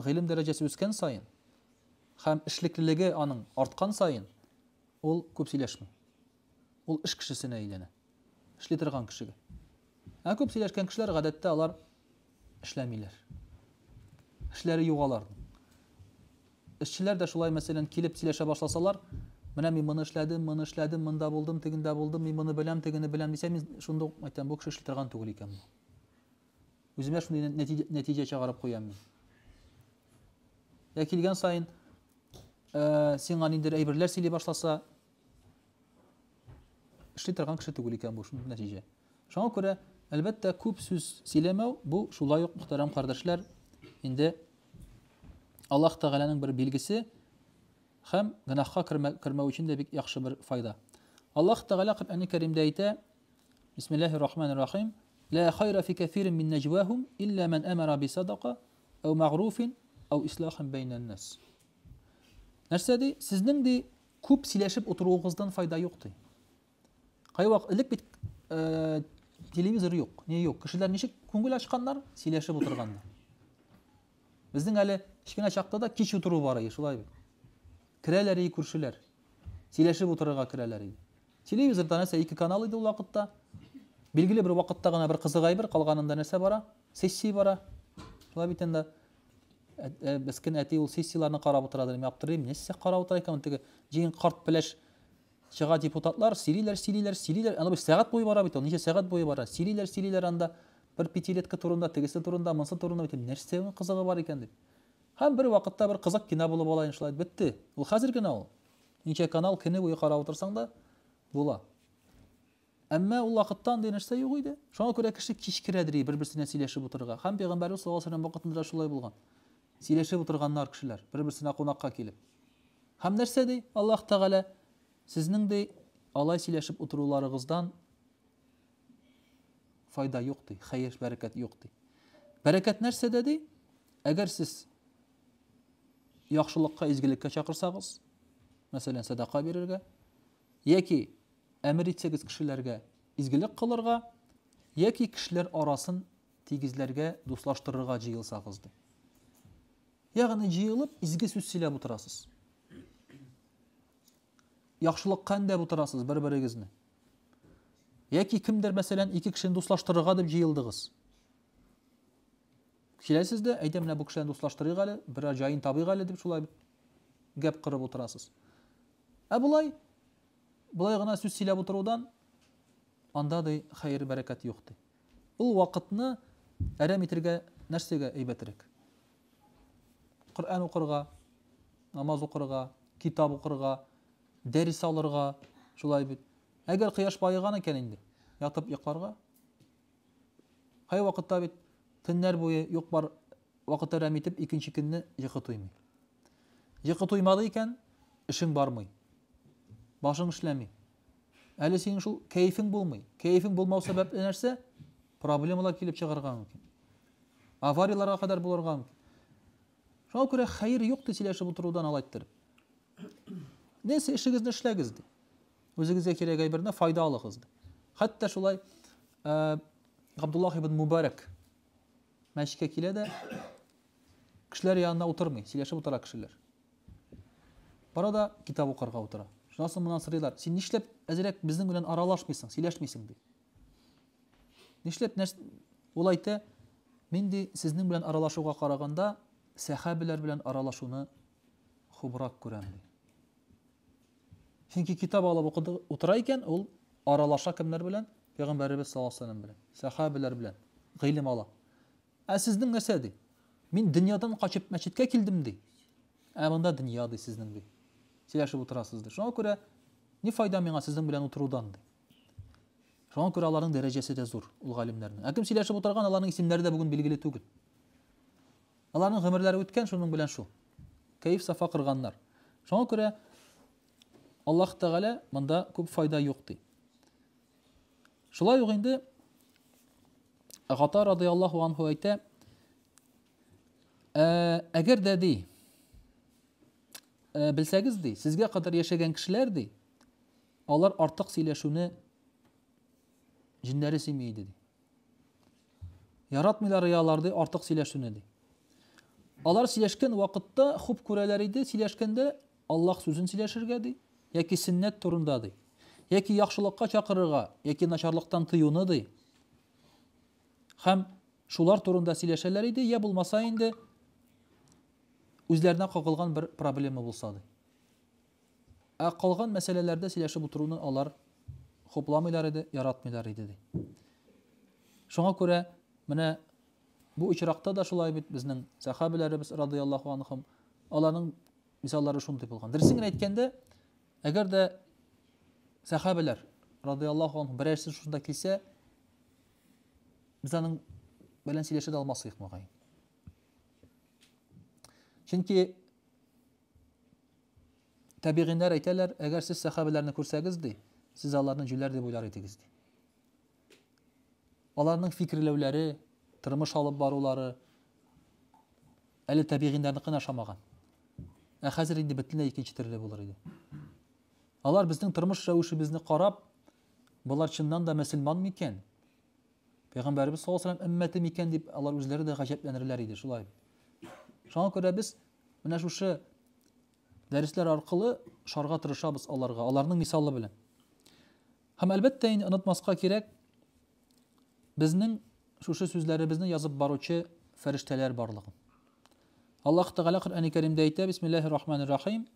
гыйлем дәрәҗәсе үскән саен һәм эшлеклелеге аның арткан саен ул күп сөйләшми. Ул эш кешесенә әйләнә. Эшли торган кешегә. Ә күп сөйләшкән кешеләр гадәттә алар эшләмиләр. Эшләре юк аларның. Эшчеләр дә шулай, мәсәлән, килеп сөйләшә башласалар, менә мин моны эшләдем, моны эшләдем, монда булдым, тегендә булдым, мин моны беләм, тегене беләм дисә, мин шунда ук әйтәм, бу кеше эшли торган түгел икән бу. Үземә шундый нәтиҗә, нәтиҗә чыгарып куям мин. Ә килгән саен, ә, сиңа ниндер әйберләр сөйли башласа, Эшли торган кеше түгел икән бу шундый нәтиҗә. Шуңа күрә, әлбәттә, күп сүз сөйләмәү бу шулай ук, мөхтәрәм кардәшләр, инде Аллаһ Тәгаләнең бер билгесе һәм гөнаһка кермәү өчен дә бик яхшы бер файда. Аллаһ Тәгалә Коръәнне Кәримдә әйтә: Бисмиллаһир рахманир рахим. Ла хайра фи кафирин мин наҗвахум илля ман амара би садака ау магруфин ау ислахин бәйнән нас. Нәрсә ди? Сезнең ди Күп сөйләшеп утыруыгыздан файда юк, ди. Кайвак элек бит э, телевизор юк, не юк. Кешеләр ничек күңел ачканнар, сөйләшеп утырганнар. Безнең әле кечкенә чакта да кич утыру бар иде, шулай бит. Керәләр иде күршеләр. Сөйләшеп утырырга керәләр иде. Телевизорда нәрсә ике канал иде ул вакытта. Билгеле бер вакытта гына бер кызык әйбер, калганында нәрсә бара? Сессия бара. Шулай бит инде. Мескен әти ул сессияләрне карап утыра дим, аптырыйм, нәрсә карап утыра икән теге җиген карт пеләш чыга депутатлар, сөйлиләр, сөйлиләр, сөйлиләр. Аны бер сәгать буе бара бит ул, ничә сәгать буе бара. Сөйлиләр, сөйлиләр анда бер пятилетка турында, тегесе турында, монсы турында бит. Нәрсә ул кызыгы бар икән дип. Һәм бер вакытта бер кызык кино булып ала инде шулай бетте. Ул хәзер генә ул. Ничә канал кино буе карап утырсаң да була. Әмма ул вакытта андый нәрсә юк иде. Шуңа күрә кеше кичкерәдер и бер-берсенә сөйләшеп утырырга. Һәм пәйгамбәрбез саллаллаһу алейһи вакытында да шулай булган. Сөйләшеп утырганнар кешеләр, бер-берсенә кунакка килеп. Һәм нәрсә ди? Аллаһ Тәгалә сезнең ди алай сөйләшеп утыруларыгыздан файда юк ди, хәер, бәрәкәт юк ди. Бәрәкәт нәрсәдә ди? Әгәр сез яхшылыкка, изгелеккә чакырсагыз, мәсәлән, садака бирергә, яки Әмер итсәгез кешеләргә изгелек кылырга, яки кешеләр арасын тигезләргә, дуслаштырырга җыелсагыз, ди. Ягъни җыелып изге сүз сөйләп утырасыз. Яхшылыкка әндәп утырасыз бер-берегезне. Яки кемдер, мәсәлән, ике кешене дуслаштырырга дип җыелдыгыз. Киләсез дә, әйдә менә бу кешеләрне дуслаштырыйк әле, берәр җаен табыйк әле дип шулай гәп кырып утырасыз. Ә болай Болай гына сүз сөйләп утырудан анда, ди, хәер-бәрәкәт юк, ди. Ул вакытны әрәм итергә нәрсәгә әйбәтрәк? Коръән укырга, намаз укырга, китап укырга, дәрес алырга, шулай бит. Әгәр кояш баеган икән инде, ятып йокларга. Кай вакытта бит төннәр буе юк-бар вакыт әрәм итеп, икенче көнне йокы туймый. Йокы туймады икән, эшең бармый. Башың эшләми. Әле синең шул кәефең булмый. Кәефең булмау сәбәпле нәрсә? Проблемалар килеп чыгарга мөмкин. Аварияларга кадәр булырга мөмкин. Шуңа күрә хәер юк ди сөйләшеп утырудан алай иттереп. Нәрсә эшегезне эшләгез ди. Үзегезгә кирәк әйберне файда алыгыз ди. Хәтта шулай Габдуллах ибн Мубарак Мәчеткә килә дә, кешеләр янына утырмый, сөйләшеп утыра кешеләр. Бара да китап укырга утыра. Шуннан соң моннан сорыйлар, син нишләп әзрәк безнең белән аралашмыйсың, сөйләшмисең ди. Нишләп нәрс... ул әйтә, мин ди сезнең белән аралашуга караганда сәхәбиләр белән аралашуны хубрак күрәм ди. Чөнки китап алып укыды утыра икән, ул аралаша кемнәр белән? Пәйгамбәребез саллаллаһу алейһи вәсәлләм белән, сәхабәләр белән гыйлем ала. Ә сезнең нәрсә ди? Мин дөньядан качып мәчеткә килдем ди. Ә монда дөнья ди сезнең ди. Сөйләшеп утырасыз ди. Шуңа күрә ни файда миңа сезнең белән утырудан ди. Шуңа күрә аларның дәрәҗәсе дә зур, ул галимнәрнең. Ә кем сөйләшеп утырган, аларның исемнәре дә бүген билгеле түгел. Аларның гомерләре үткән, шуның белән шул. Кәеф-сафа кырганнар. Шуңа күрә Аллаһ Тәгалә монда күп файда юк ди. Шулай ук инде Гата радиаллаху анху әйтә, «Ә, әгәр дә ди, ә, белсәгез ди, сезгә кадәр яшәгән кешеләр ди, алар артык сөйләшүне җиннәре сөйми иде ди. Яратмыйлар и алар, ди, артык сөйләшүне, ди. Алар сөйләшкән вакытта хуп күрәләр иде, сөйләшкәндә Аллаһ сүзен сөйләшергә, ди, яки сөннәт турында, ди. Яки яхшылыкка чакырырга, яки начарлыктан тыюны, ди. Хәм шулар турында сөйләшәләр иде, я булмаса инде үзләренә кагылган бер проблема булса, ди. Ә калган мәсьәләләрдә сөйләшеп утыруны алар хупламыйлар иде, яратмыйлар иде, ди. Шуңа күрә менә бу очракта да шулай бит безнең сахабиләребез радияллаху анхум, аларның мисаллары шундый булган. Дөресен генә әйткәндә, әгәр дә сахабиләр радияллаху анхум берәрсе шунда килсә, без аның белән сөйләшә дә алмас идек мөгаен. Чөнки Тәбигыйннәр әйтәләр, әгәр сез сәхабәләрне күрсәгез, ди, сез аларны җүләр дип уйлар идегез, ди. Аларның фикерләүләре, тормыш алып барулары әле тәбигыйннәрнекенә ошамаган. Ә хәзер инде бөтенләй икенче төрле булыр иде. Алар безнең тормыш рәвешебезне карап, болар чыннан да мөселман микән? Пәйгамбәрбез саллаллаһу алейһи ва сәлләм өммәте микән дип алар үзләре дә гаҗәпләнерләр иде, шулай. Шуңа күрә без Менә шушы дәресләр аркылы шарга тырышабыз аларга, аларның мисалы белән. Һәм әлбәттә инде онытмаска кирәк, безнең шушы сүзләребезне язып баручы фәрештәләр барлыгын. Аллаһ Тәгалә Коръәни Кәримдә әйтә, Бисмиллаһир Рахманир Рахим.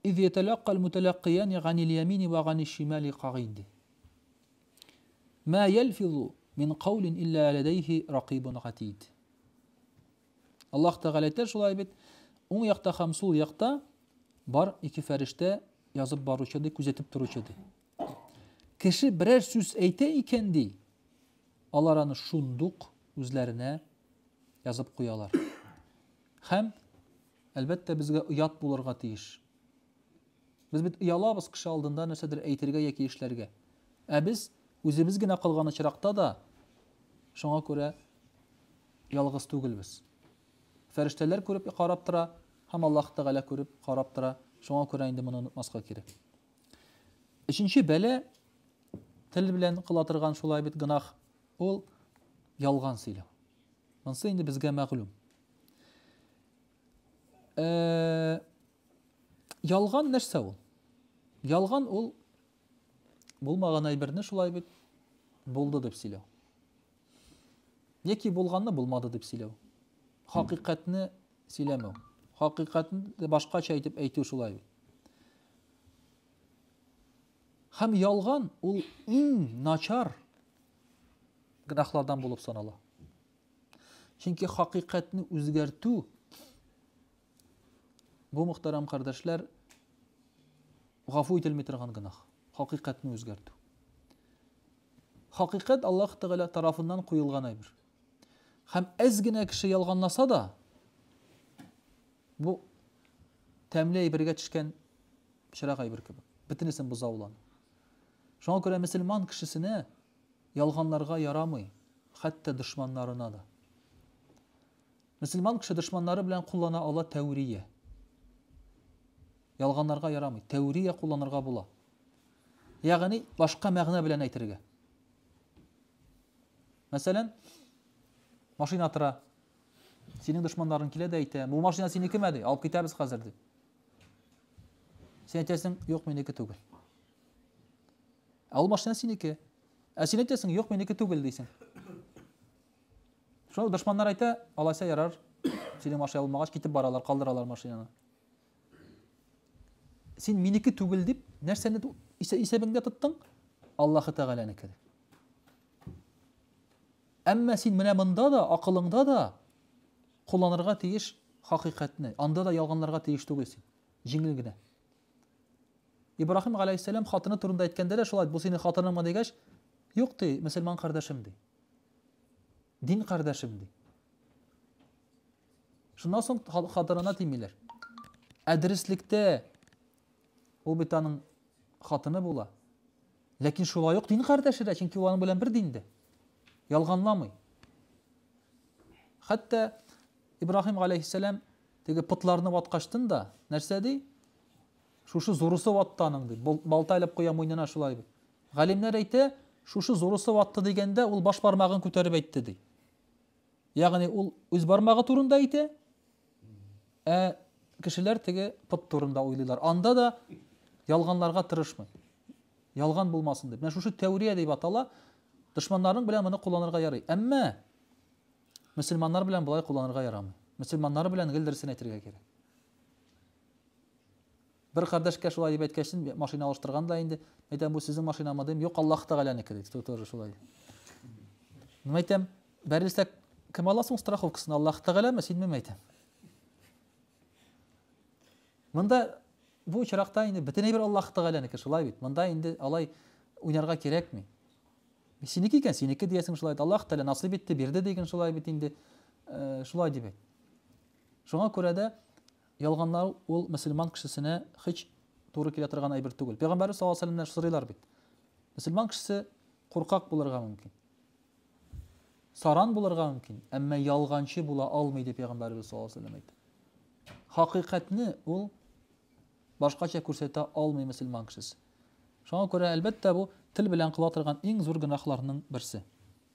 Из яталаккал муталаккиян ганил ямини ва ганиш шимали кагид. Ма ялфизу мин каулин илля ләдәйһи ракыйбун гатид. Аллаһ Тәгалә әйтә шулай бит, уң якта һәм сул якта бар ике фәрештә язып баручы ди, күзәтеп торучы ди. Кеше берәр сүз әйтә икән ди, алар аны шундук үзләренә язып куялар. Һәм әлбәттә безгә оят булырга тиеш. Без бит оялабыз кеше алдында нәрсәдер әйтергә яки эшләргә. Ә без үзебез генә калган очракта да шуңа күрә ялгыз түгелбез. Фәрештәләр күреп карап тора һәм Аллаһ Тәгалә күреп карап тора. Шуңа күрә инде моны онытмаска кирәк. Өченче бәлә тел белән кыла торган шулай бит гынах, ул ялган сөйләү. Монсы инде безгә мәгълүм. Э, Ялган нәрсә ул? Ялган ул булмаган әйберне шулай бит булды дип сөйләү. Яки булганны булмады дип сөйләү. Хакыйкатьне сөйләмәү. Хакыйкатьне башкача әйтеп әйтү шулай бит. Хәм ялган ул иң начар гынахлардан булып санала. Чөнки хакыйкатьне үзгәртү Бу, мөхтәрәм кардәшләр, гафу ителми торган гөнаһ, хакыйкатьне үзгәртү. Хакыйкать Аллаһ Тәгалә тарафыннан куелган әйбер. Һәм әз генә кеше ялганласа да, бу тәмле әйбергә төшкән чырак әйбер кебек. Бөтенесен боза ул аны. Шуңа күрә мөселман кешесенә ялганларга ярамый, хәтта дошманнарына да. Мөселман кеше дошманнары белән куллана ала тәүрия. Ялганларга ярамый. Тәүрия кулланырга була. Ягъни башка мәгънә белән әйтергә. Мәсәлән, машина тора. Синең дошманларың килә дә әйтә, бу машина синекеме ди, алып китәбез хәзер ди. Син әйтәсең, юк, минеке түгел. Ә ул машина синеке. Ә син әйтәсең, юк, минеке түгел дисең. Шуны дошманнар әйтә, алайса ярар, синең машина булмагач, китеп баралар, калдыралар машинаны. Син минеке түгел дип, нәрсәне исәбеңдә тоттың? Аллаһы Тәгаләнеке. Әмма син менә монда да, акылыңда да кулланырга тиеш хакыйкатьне. Анда да ялганларга тиеш түгел син. Җиңел генә. Ибраһим галәйһиссәлам хатыны турында әйткәндә дә шулай, бу синең хатыныңмы дигәч, юк ди, мөселман кардәшем ди. Дин кардәшем, ди. Шуннан соң хатынына тимиләр. Ә дөреслектә ул бит аның хатыны була. Ләкин шулай ук дин кардәше дә, чөнки ул аның белән бер диндә. Ялганламый. Хәтта Ибраһим галәйһиссәлам теге пытларны ваткачтын да, нәрсә ди? Шушы зурысы ватты аның, ди. Балта илеп куя муйнына шулай. Галимнәр әйтә, шушы зурысы ватты дигәндә, ул баш бармагын күтәреп әйтте, ди. Ягъни ул үз бармагы турында әйтә, ә кешеләр теге пот турында уйлыйлар. Анда да ялганларга тырышмый. Ялган булмасын дип. Менә шушы тәүрия дип атала. Дошманнарың белән моны кулланырга ярый. Әмма мөселманнар белән болай кулланырга ярамый. Мөселманнар белән гел дөресен әйтергә кирәк. Бер кардәшкә шулай дип әйткәчтен, машина алыштырган да инде. Әйтәм, бу сезнең машинамы дим. Юк, Аллаһ Тәгаләнеке ди. Ту тоже шулай. Мин әйтәм, бәрелсә кем ала соң страховкасын? Аллаһ Тәгаләме, синмеме әйтәм? Монда бу очракта инде бөтен әйбер Аллаһ Тәгаләнеке, шулай бит. Монда инде алай уйнарга кирәкми. Синеке икән, синеке диясең шулай. Аллаһ Тәгалә насыйп итте, бирде диген шулай бит инде. Э, шулай дип әйт. Шуңа күрә дә Ялганлау ул мөселман кешесенә һич туры килә торган әйбер түгел. Пәйгамбәрбез саллаллаһу алейһи вәсәлләмнән сорыйлар бит. Мөселман кешесе куркак булырга мөмкин. Саран булырга мөмкин, әмма ялганчы була алмый дип пәйгамбәрбез саллаллаһу алейһи вәсәлләм әйтә. Хакыйкатьне ул башкача күрсәтә алмый мөселман кешесе. Шуңа күрә, әлбәттә, бу тел белән кыла торган иң зур гөнаһларның берсе.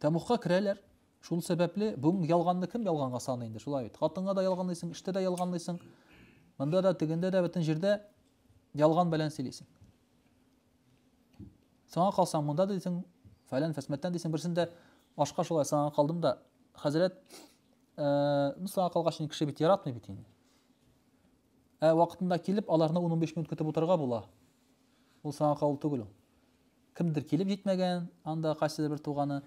Тәмугка керәләр. Шул сәбәпле бүген ялганны кем ялганга саный инде, шулай бит. Хатынга да ялганлыйсың, эштә дә ялганлыйсың. Монда да, тегендә дә, бөтен җирдә ялган белән сөйлисең. Соңа калсаң, монда дисең, фәлән фәсмәттән дисең, берсендә ашка шулай соңа калдым да, хәзрәт, э, ну, соңа калгач, кеше бит яратмый бит инде. Ә вакытында килеп, аларны 10-15 минут көтеп утырырга була. Ул соңа калу түгел ул. Кемдер килеп җитмәгән, анда кайсыдыр бер туганы.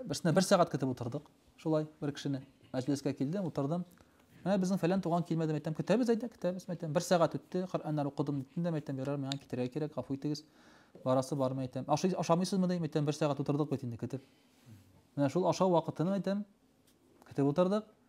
Берсенә бер сәгать көтеп утырдык. Шулай бер кешене мәҗлескә килдем, утырдым. Менә безнең фәлән туган килмәде, мәйтәм, көтәбез әйдә, көтәбез, мәйтәм. Бер сәгать үтте, Коръәннәр укыдым, диттем дә, мәйтәм, ярар, миңа китәргә кирәк, гафу итегез. Барасы бар, мәйтәм. Ашый, ашамыйсызмы, дим, мәйтәм, бер сәгать утырдык бит инде көтеп. Менә шул ашау вакытын мәйтәм, көтеп утырдык.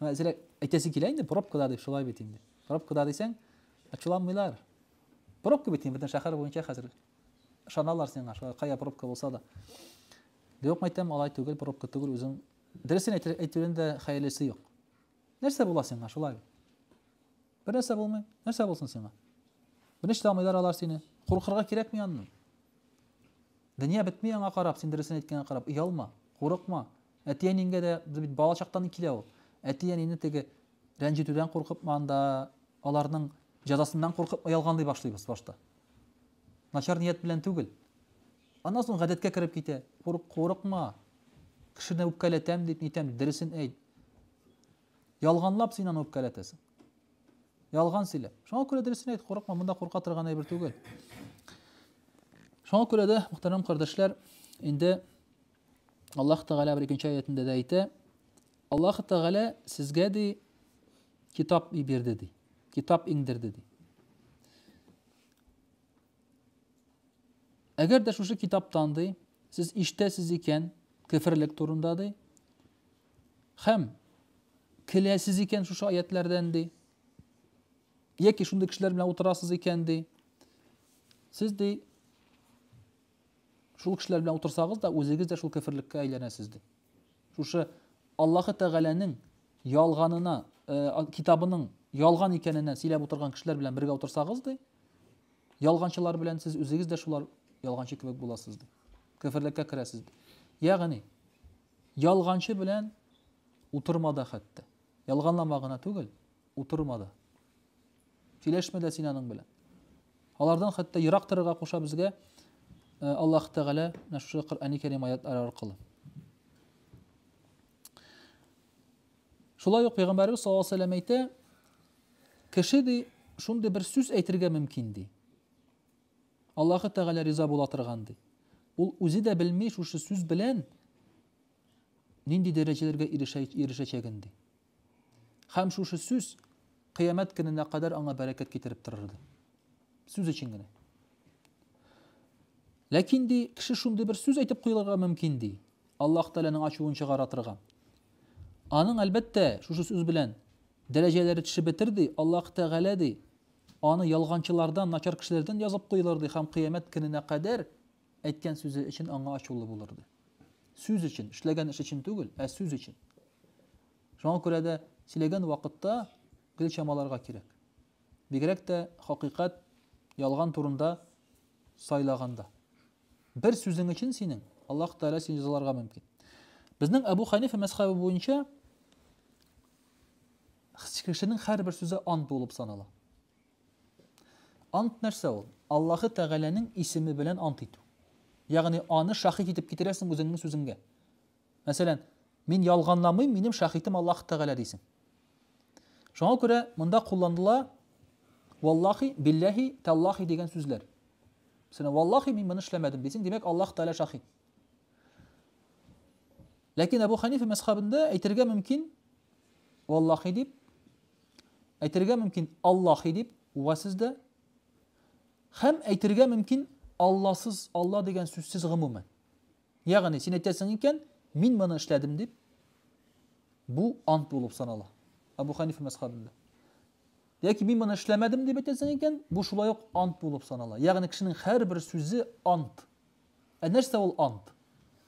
Зря әйтәсе килә инде, пробкада дип, шулай бит инде. Пробкада дисәң, ачуланмыйлар. Пробка бит инде, бөтен шәһәр буенча хәзер ышаналар сиңа, шулай кая пробка булса да. Юк, мәйтәм, алай түгел, пробка түгел, үзең дөресен әйтүдән дә хәерлесе юк. Нәрсә була сиңа, шулай бит? Бер нәрсә булмый, нәрсә булсын сиңа? Берничә алмыйлар алар сине. Куркырга кирәкми аннан. Дөнья бетми аңа карап, син дөресен әйткәнгә карап, оялма, курыкма. Әти-әниеңгә дә бит бала чактан килә ул. Әти-әнине теге рәнҗетүдән куркып анда аларның җәзасыннан куркып ялганлый башлыйбыз башта. Начар ният белән түгел. Аннан соң гадәткә кереп китә. Курыкма. Кешене үпкәләтәм дип нитәм, дөресен әйт. Ялганлап син аны үпкәләтәсең. Ялган сөйләп. Шуңа күрә дөресен әйт, курыкма, монда курка торган әйбер түгел. Шуңа күрә дә, мөхтәрәм кардәшләр, инде Аллаһ Тәгалә бер икенче аятында да әйтә, Аллаһ Тәгалә сезгә ди китап иберде ди, китап иңдерде ди. Әгәр дә шушы китаптан ди, сез иштәсез икән, кеферлек турында ди, хәм көләсез икән шушы аятләрдән ди, яки шундый кешеләр белән утырасыз икән ди, сез ди Шул кешеләр белән утырсагыз да, үзегез дә шул кефирлеккә әйләнәсез дип. Шушы Аллаһы Тәгаләнең ялганына, э, китабының ялган икәненә сөйләп утырган кешеләр белән бергә утырсагыз ди, ялганчылар белән сез үзегез дә шулар ялганчы кебек буласыз ди. Кефирлеккә керәсез ди. Ягъни ялганчы белән утырмада хәтта. Ялганлама гына түгел, утырма да. Сөйләшмә дә син аның белән. Алардан хәтта ерак торырга куша безгә Аллаһ Тәгалә менә шушы Коръәни Кәрим аятлары аркылы. Шулай ук Пәйгамбәрбез саллаллаһу алейһи ва сәлләм әйтә, кеше ди шундый бер сүз әйтергә мөмкин ди. Аллаһы Тәгалә риза була торган ди. Ул үзе дә белми шушы сүз белән нинди дәрәҗәләргә ирешәчәген, ди. Һәм шушы сүз кыямәт көненә кадәр аңа бәрәкәт китереп торыр иде. Сүз өчен генә. Ләкин ди, кеше шундый бер сүз әйтеп куелырга мөмкин ди. Аллаһ Тәгаләнең ачуын чыгара торган. Аның әлбәттә шушы сүз белән дәрәҗәләре төшеп бетер ди. Аллаһ Тәгалә ди, аны ялганчылардан, начар кешеләрдән язып куелыр ди һәм кыямәт көненә кадәр Әйткән сүзе өчен аңа ачулы булырды. Сүз өчен, эшләгән эш өчен түгел, ә сүз өчен. Шуңа күрә дә сөйләгән вакытта гел чамаларга кирәк. Бигрәк тә хакыйкать, ялган турында сайлаганда. Бер сүзең өчен синең Аллаһ Тәгалә сине җәзаларга мөмкин. Безнең Әбу Ханифа мәсхәбе буенча кешенең һәрбер сүзе ант булып санала. Ант нәрсә ул? Аллаһы Тәгаләнең исеме белән ант итү. Ягъни аны шаһит итеп китерәсең үзеңнең сүзеңгә. Мәсәлән, мин ялганламыйм, минем шаһитым Аллаһ Тәгалә дисең. Шуңа күрә монда кулланыла валлахи, билләһи, тәллахи дигән сүзләр. Сина валлахи мин моны эшләмәдем дисең, димәк Аллаһ Тәгалә шаһит. Ләкин Абу Ханифа мәсхабында әйтергә мөмкин валлахи дип Әйтергә мөмкин Аллаһи дип, уга сез дә. Хәм әйтергә мөмкин Алласыз, Алла дигән сүзсез гомумән. Ягъни син әйтәсең икән, мин моны эшләдем дип, бу ант булып санала. Абу Ханифа мәсхабында. Яки мин моны эшләмәдем дип әйтәсең икән, бу шулай ук ант булып санала. Ягъни кешенең һәрбер сүзе ант. Ә нәрсә ул ант?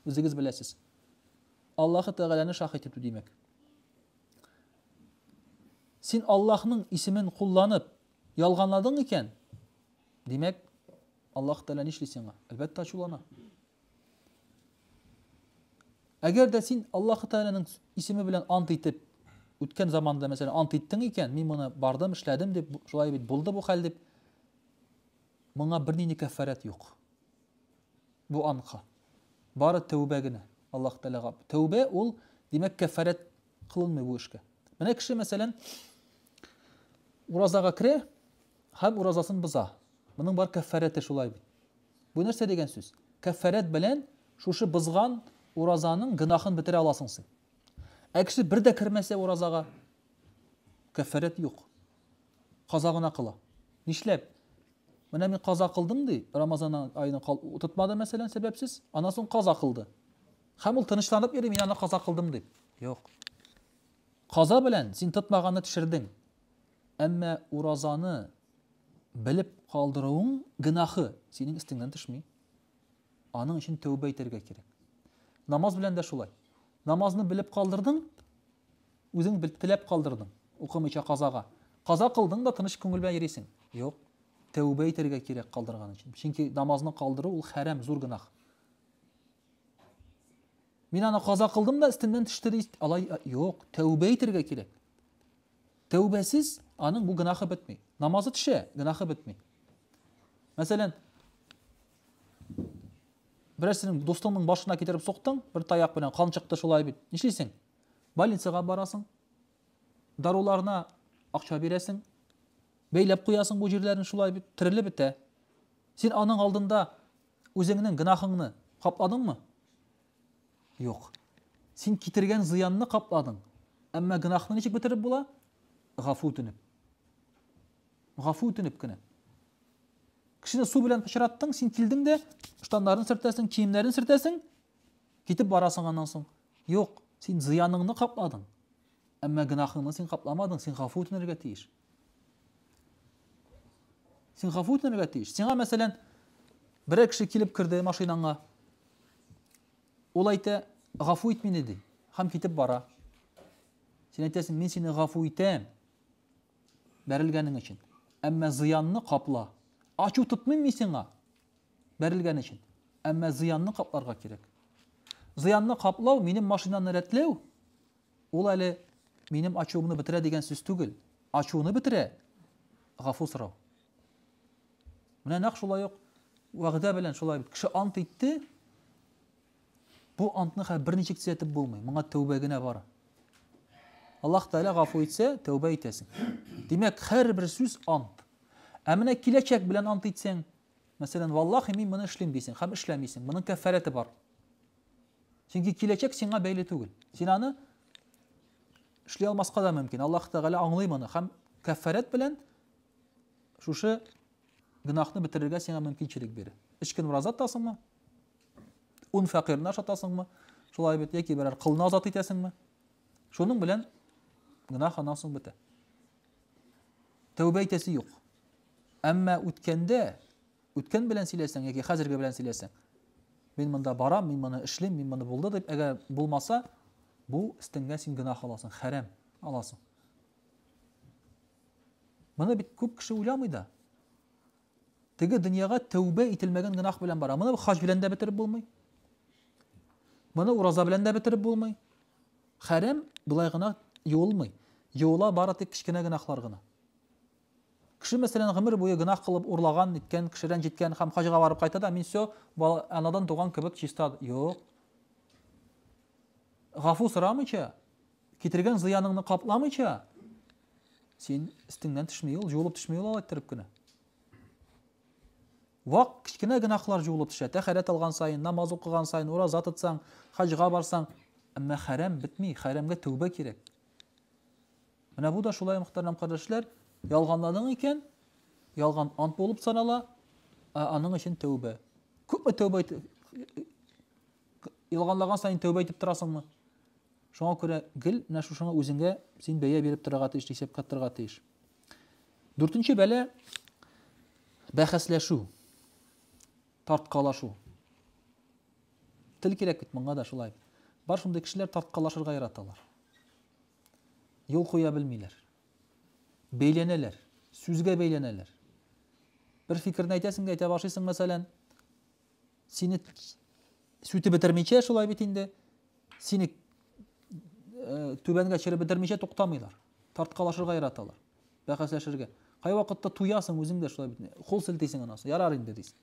Үзегез беләсез. Аллаһы Тәгаләне шаһит итү димәк. Син Аллаһның исемен кулланып, ялганладың икән, димәк, Аллаһ Тәгалә нишли сиңа? Әлбәттә, ачулана. Әгәр дә син Аллаһ Тәгаләнең исеме белән ант итеп, үткән заманда, мәсәлән, ант иттең икән, мин моны бардым, эшләдем дип, шулай бит булды бу хәл дип, моңа бернинди кәффарәт юк. Бу анка. Бары тәүбә генә. Аллаһ Тәгаләгә. Тәүбә ул, димәк, кәффарәт кылынмый бу эшкә. Менә кеше, мәсәлән, уразага керә һәм уразасын боза. Моның бар кәффәрәте шулай бит. Бу нәрсә дигән сүз? Кәффәрәт белән шушы бозган уразаның гөнаһын бетерә аласың син. Ә кеше бер дә кермәсә уразага, кәффәрәт юк. Каза гына кыла. Нишләп? Менә мин каза кылдым ди, Рамазан аеның тотмады мәсәлән сәбәпсез, аннан соң каза кылды. Һәм ул тынычланып йөри, мин аны каза кылдым дип. Юк. Каза белән син тотмаганны төшердең. Әмма уразаны белеп калдыруың гынахы синең өстеңнән төшми. Аның өчен тәүбә итәргә кирәк. Намаз белән дә шулай. Намазны белеп калдырдың, үзең бел теләп калдырдың, укымыйча казага. Каза кылдың да тыныч күңел белән йөрисең. Юк. Тәүбә итәргә кирәк калдырган өчен. Чөнки намазны калдыру ул хәрам, зур гынах. Мин аны каза кылдым да өстемнән төште ди. Алай юк, тәүбә итәргә кирәк. Тәүбәсез аның бу гынахы бетми. Намазы төшә, гынахы бетми. Мәсәлән, берәрсенең дустыңның башына китереп соктың, бер таяк белән кан чыкты шулай бит. Нишлисең? Больницага барасың. Даруларына акча бирәсең. Бәйләп куясың бу җирләрен шулай бит, терелеп бетә. Син аның алдында Үзеңнең гөнаһыңны капладыңмы? Юк. Син китергән зыянны капладың. Әмма гөнаһны ничек бетереп була? Гафу үтенеп. Гафу үтенеп кенә. Кешене су белән пычраттың, син килдең дә, штаннарын сөртәсең, киемнәрен сөртәсең, китеп барасың аннан соң. Юк, син зыяныңны капладың. Әмма гөнаһыңны син капламадың, син гафу үтенергә тиеш. Син гафу үтенергә тиеш. Сиңа, мәсәлән, берәр кеше килеп керде машинаңа. Ул әйтә, гафу ит мине, ди, һәм китеп бара. Син әйтәсең, мин сине гафу итәм, бәрелгәнең өчен. Әмма зыянны капла. Ачу тотмыйм мин сиңа, бәрелгән өчен. Әмма зыянны капларга кирәк. Зыянны каплау, минем машинаны рәтләү, Ул әле минем ачуымны бетерә дигән сүз түгел. Ачуны бетерә, гафу сорау. Менә нәкъ шулай ук вәгъдә белән шулай бит. Кеше ант итте, бу антны хәзер берничек төзәтеп булмый. Моңа тәүбә генә бар. Аллаһ Тәгалә гафу итсә, тәүбә итәсең. Димәк, һәрбер сүз ант. Ә менә киләчәк белән ант итсәң, мәсәлән, валлахи мин моны эшлим дисең һәм эшләмисең. Моның кәффарәте бар. Чөнки киләчәк сиңа бәйле түгел. Син аны эшли алмаска да мөмкин. Аллаһ Тәгалә аңлый моны һәм кәффарәт белән шушы гөнаһны бетерергә сиңа мөмкинчелек бирә. Өч көн ураза тотасыңмы? Ун фәкыйрьне ашатасыңмы? Шулай бит, яки берәр кылны азат итәсеңме? Шуның белән гөнаһ аннан соң бетә. Тәүбә итәсе юк. Әмма үткәндә Үткән белән сөйләсәң яки хәзерге белән сөйләсәң, мин монда барам, мин моны эшлим, мин моны булды дип, әгәр булмаса, бу стенгә син гына халасың, хәрәм аласың. Моны бит күп кеше уйламый да. Теге дөньяга тәүбә ителмәгән генах белән бара. Моны хаҗ белән дә бетереп булмый. Моны ураза белән дә бетереп булмый. Хәрәм былай гына юылмый. Юыла бары тик кечкенә генахлар гына. Кеше мәсәлән гомер буе гөнаһ кылып, урлаган, ниткән, кеше рәнҗеткән һәм хаҗга барып кайта да, мин все, бала, анадан туган кебек чиста, юк. Гафу сорамыйча, китергән зыяныңны капламыйча, син өстеңнән төшми ул, җуылып төшми ул алай иттереп кенә. Вак кечкенә гөнаһлар җуылып төшә. Тәхәрәт алган саен, намаз укыган саен, ураза тотсаң, хаҗга барсаң, әмма хәрәм бетми, хәрәмгә тәүбә кирәк. Менә бу да шулай, мөхтәрәм кардәшләр, ялганладың икән, ялган ант булып санала, ә аның өчен тәүбә. Күпме тәүбә ялганлаган сайын тәүбә итеп торасыңмы? Шуңа күрә гел менә шушыңа үзеңә син бәя биреп торырга тиеш, исәп катырга тиеш. Дүртенче бәлә бәхәсләшү, тарткалашу. Тел кирәк бит монда да шулай. Бар шундый кешеләр тарткалашырга яраталар. юл куя белмиләр. Бәйләнәләр, сүзгә бәйләнәләр. Бер фикерне әйтәсең дә әйтә башлыйсың, мәсәлән, сине сүтеп бетермичә шулай бит инде, сине э, түбәнгә төшереп бетермичә туктамыйлар. Тарткалашырга яраталар, бәхәсләшергә. Кай вакытта туясың үзең дә шулай бит. Кул селтисең анасы, ярар инде дисең.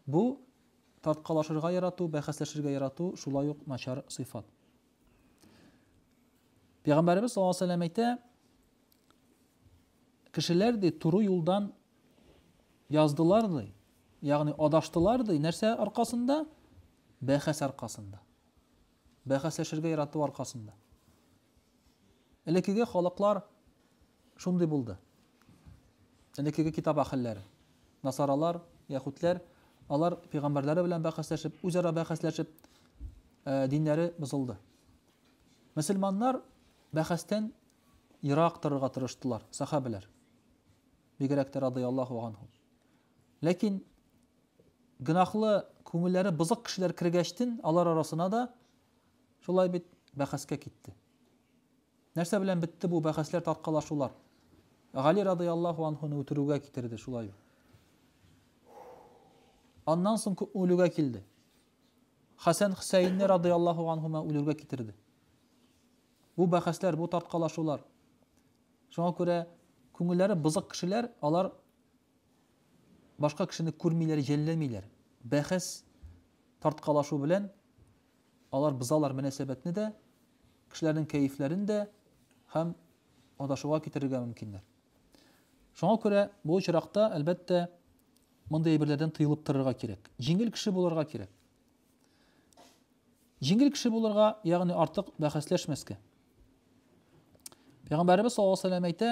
Бу тарткалашырга ярату, бәхәсләшергә ярату шулай ук начар сыйфат. Пәйгамбәребез саллаллаху алейһи вәсәлләм әйтә, кешеләр ди туры юлдан яздылар ди, ягъни адаштылар ди, нәрсә аркасында? Бәхәс аркасында. Бәхәсләшергә ярату аркасында. Элеккеге халыклар Шундый булды. Элеккеге китап әһелләре, насаралар, яһүдләр, алар пәйгамбәрләре белән бәхәсләшеп, үзара бәхәсләшеп, диннәре бозылды. Мөселманнар бәхәстән ерак торырга тырыштылар, сахабәләр. Бигрәк тә радияллаһу анһу. Ләкин гынахлы күңелләре бызык кешеләр кергәчтен, алар арасына да шулай бит бәхәскә китте. Нәрсә белән бетте бу бәхәсләр, таркалашулар? Гали радыяллаһу анһуны үтерүгә китерде, шулай. Аннан соң күп үлүгә килде. Хәсән Хусәйнне радыяллаһу анһума үлүгә китерде. Бу бәхәсләр, бу таркалашулар. Шуңа күрә күңелләре бызык кешеләр, алар башка кешене күрмиләр, җәлләмиләр. Бәхәс тарткалашу белән Алар бозалар мөнәсәбәтне дә, кешеләрнең кәефләрен дә һәм адашуга китерергә мөмкиннәр. Шуңа күрә бу очракта, әлбәттә, мондый әйберләрдән тыелып торырга кирәк. Җиңел кеше булырга кирәк. Җиңел кеше булырга, ягъни артык бәхәсләшмәскә. Пәйгамбәребез саллаллаһу алейһи ва сәлләм әйтә,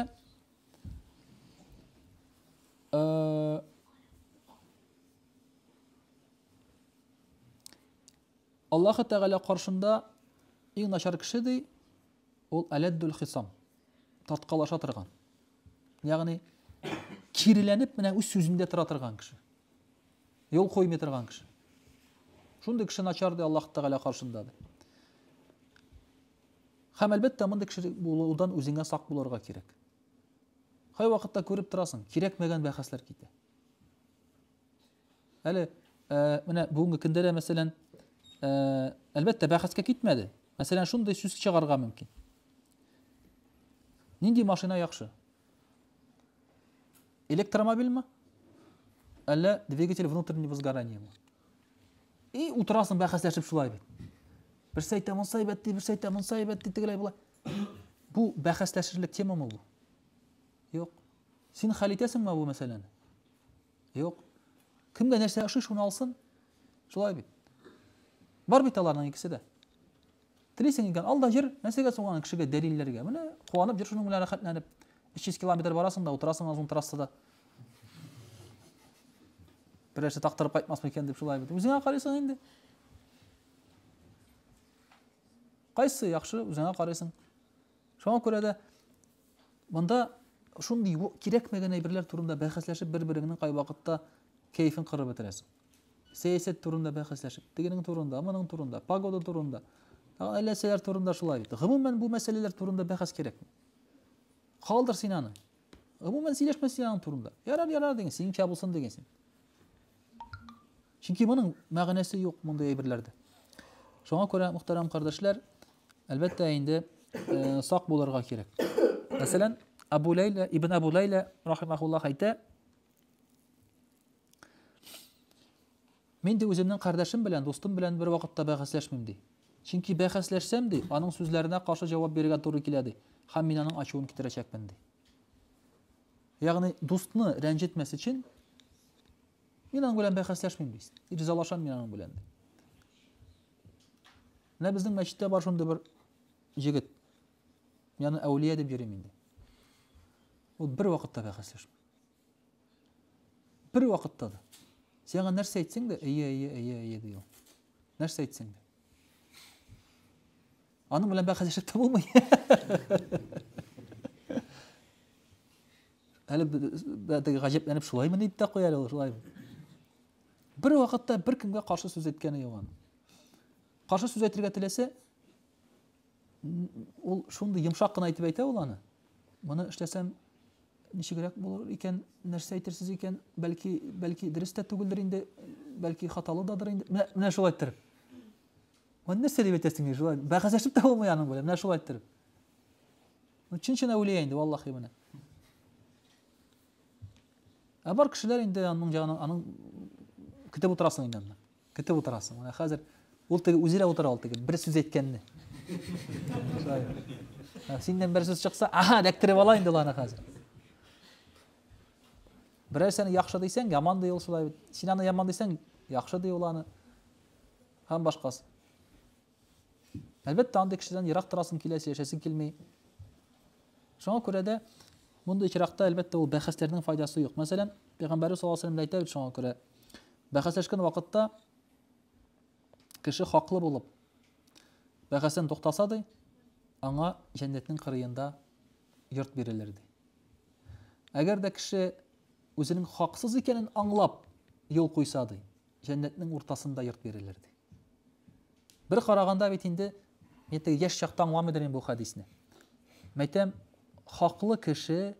Аллаһы Тәгалә каршында иң начар кеше ди, ул әләддүл хисам, тарткалаша торган. Ягъни киреләнеп менә үз сүзендә тора торган кеше. Юл куймый торган кеше. Шундый кеше начар ди Аллаһ Тәгалә каршында ди. Һәм әлбәттә мондый кеше булудан үзеңә сак булырга кирәк. Кай вакытта күреп торасың, кирәкмәгән бәхәсләр китә. Әле менә бүгенге көндә дә мәсәлән, әлбәттә, бәхәскә китмәде. Мәсәлән, шундый сүз чыгарга мөмкин. Нинди машина яхшы? Электромобильме? Әллә двигатель внутреннего сгорания ме? И утырасың бәхәсләшеп шулай бит. Берсе әйтә, монса әйбәт ди, берсе әйтә, монса әйбәт ди, тегеләй була. Бу бәхәсләшерлек темамы бу? Юк. Син хәл итәсеңме бу мәсьәләне? Юк. Кемгә нәрсә ошый, шуны алсын. Шулай бит. Бар бит аларның икесе дә. Телисең икән, ал да җыр, нәрсәгә соң аны кешегә дәлилләргә? Менә куанып җыр шуның белән рәхәтләнеп. 300 километр барасың да утырасың озын трассада. Берәрсе тактырып кайтмас микән дип шулай бит. Үзеңә карыйсың инде. Кайсы яхшы, үзеңә карыйсың. Шуңа күрә дә монда шундый кирәкмәгән әйберләр турында бәхәсләшеп бер-береңнең кайвакытта кәефен кырып бетерәсең. Сәясәт турында бәхәсләшеп, тегенең турында, моның турында, погода турында, әлләсәләр турында шулай бит. Гомумән бу мәсьәләләр турында бәхәс кирәкми. Калдыр син аны. Гомумән сөйләшмә син аның турында. Ярар, ярар диген, синеңчә булсын диген син. Чөнки моның мәгънәсе юк мондый әйберләрдә. Шуңа күрә, мөхтәрәм кардәшләр, әлбәттә инде э, сак булырга кирәк. Мәсәлән, Абу Ләйлә, Ибн Абу Ләйлә, рахимахуллах, әйтә, Мин, ди, үземнең кардәшем белән, дустым белән бервакытта бәхәсләшмим, ди. Чөнки бәхәсләшсәм, ди, аның сүзләренә каршы җавап бирергә туры килә, ди, һәм мин аның ачуын китерәчәкмен, ди. Ягъни, дустны рәнҗетмәс өчен, мин аның белән бәхәсләшмим, ди. Ризалашам мин аның белән, ди. Менә безнең мәчеттә бар шундый бер җегет. Яны әүлия дип йөрим инде. Ул бер вакытта бәхәсләшми. Бер вакытта да. Сиңа нәрсә әйтсәң дә, әйе, әйе, әйе, әйе ди ул. Нәрсә әйтсәң дә. Аның белән бәхәсләшеп тә булмый. Әле бәдәге гаҗәпләнеп шулаймы дип тә куя әле шулай. Бер вакытта бер кемгә каршы сүз әйткәне юк аның. Каршы сүз әйтергә теләсә, Ул шундый йомшак кына итеп әйтә ул аны. Моны эшләсәм ничегрәк булыр икән, нәрсә әйтерсез икән, бәлки, бәлки дөрес тә түгелдер инде, бәлки хаталы дадыр инде. Менә, менә шулай иттереп. Моны нәрсә дип әйтәсең инде, шулай бәхәсләшеп тә булмый аның белән, менә шулай иттереп. Ну, чын-чын әүлия инде, валлахи менә. Ә бар кешеләр инде аның ягына, аның көтеп утырасың инде анда. Көтеп утырасың. Менә хәзер ул теге үзе дә утыра ул теге бер сүз әйткәнне. Синнән бер сүз чыкса, аха, эләктереп ала инде аны хәзер. Берәр сәне яхшы дисәң, яман ди ул шулай бит. Син аны яман дисәң, яхшы ди ул аны. Һәм башкасы. Әлбәттә, андый кешедән ерак торасың килә, сөйләшәсең килми. Шуңа күрә дә мондый очракта, әлбәттә, ул бәхәсләрнең файдасы юк. Мәсәлән, Пәйгамбәрбез саллаллаһу алейһи ва әйтә бит шуңа күрә. Бәхәсләшкән вакытта кеше хаклы булып бәхәсен туктаса ди, аңа җәннәтнең кырыенда йорт бирелер ди. Әгәр дә кеше үзенең хаксыз икәнен аңлап юл куйса ди, җәннәтнең уртасында йорт бирелер, ди. Бер караганда бит инде, мин теге яшь чакта аңламыйдыр мин бу хәдисне. Мәйтәм, хаклы кеше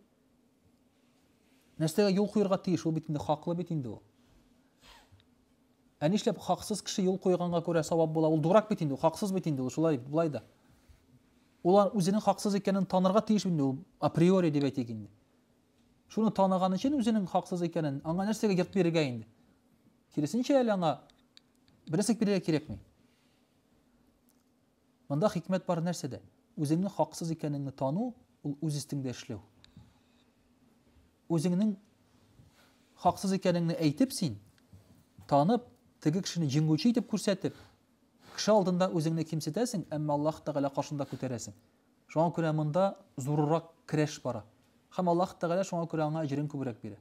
нәрсәгә юл куярга тиеш, ул бит инде хаклы бит инде ул. Ә нишләп хаксыз кеше юл куйганга күрә савап була? Ул дурак бит инде, хаксыз бит инде ул, шулай бит, булай да. Ул үзенең хаксыз икәнен танырга тиеш инде ул априори дип әйтик инде. Шуны таныган өчен үзенең хаксыз икәнен, аңа нәрсәгә йорт бирергә инде? Киресенчә әле аңа берәсек бирергә кирәкми. Монда хикмәт бар нәрсәдә? Үзеңнең хаксыз икәнеңне тану, ул үз истеңдә эшләү. Үзеңнең хаксыз икәнеңне әйтеп син, танып, теге кешене җиңүче итеп күрсәтеп, кеше алдында үзеңне кимсетәсең, әмма Аллаһ Тәгалә каршында күтәрәсең. Шуңа күрә монда зурырак көрәш бара. Һәм Аллаһ Тәгалә шуңа күрә аңа әҗерен күбрәк бирә.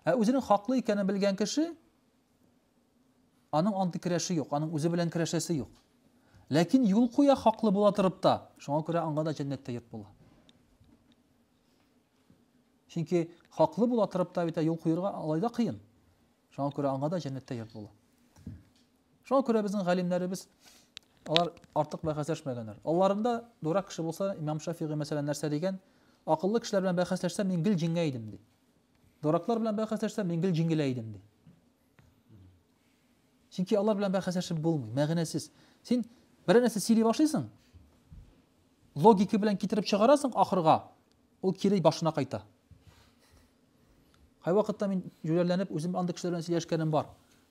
Ә үзенең хаклы икәнен белгән кеше аның андый көрәше юк, аның үзе белән көрәшәсе юк. Ләкин юл куя хаклы була торып та, шуңа күрә аңа да җәннәттә йорт була. Чөнки хаклы була торып та бит юл куерга алай да кыен. Шуңа күрә аңа да җәннәттә йорт була. Шуңа күрә безнең галимнәребез алар артык бәхәсләшмәгәннәр. Алларында дурак кеше булса, Имам Шафигый мәсәлән нәрсә дигән? Акыллы кешеләр белән бәхәсләшсәм, мин гел җиңә идем ди. Дураклар белән бәхәсләшсәм, мин гел җиңелә идем ди. Чөнки алар белән бәхәсләшеп булмый, мәгънәсез. Син берәр нәрсә сөйли башлыйсың, логика белән китереп чыгарасың ахырга, ул кире башына кайта. Кай вакытта мин җүләрләнеп үзем андый кешеләр белән сөйләшкәнем бар.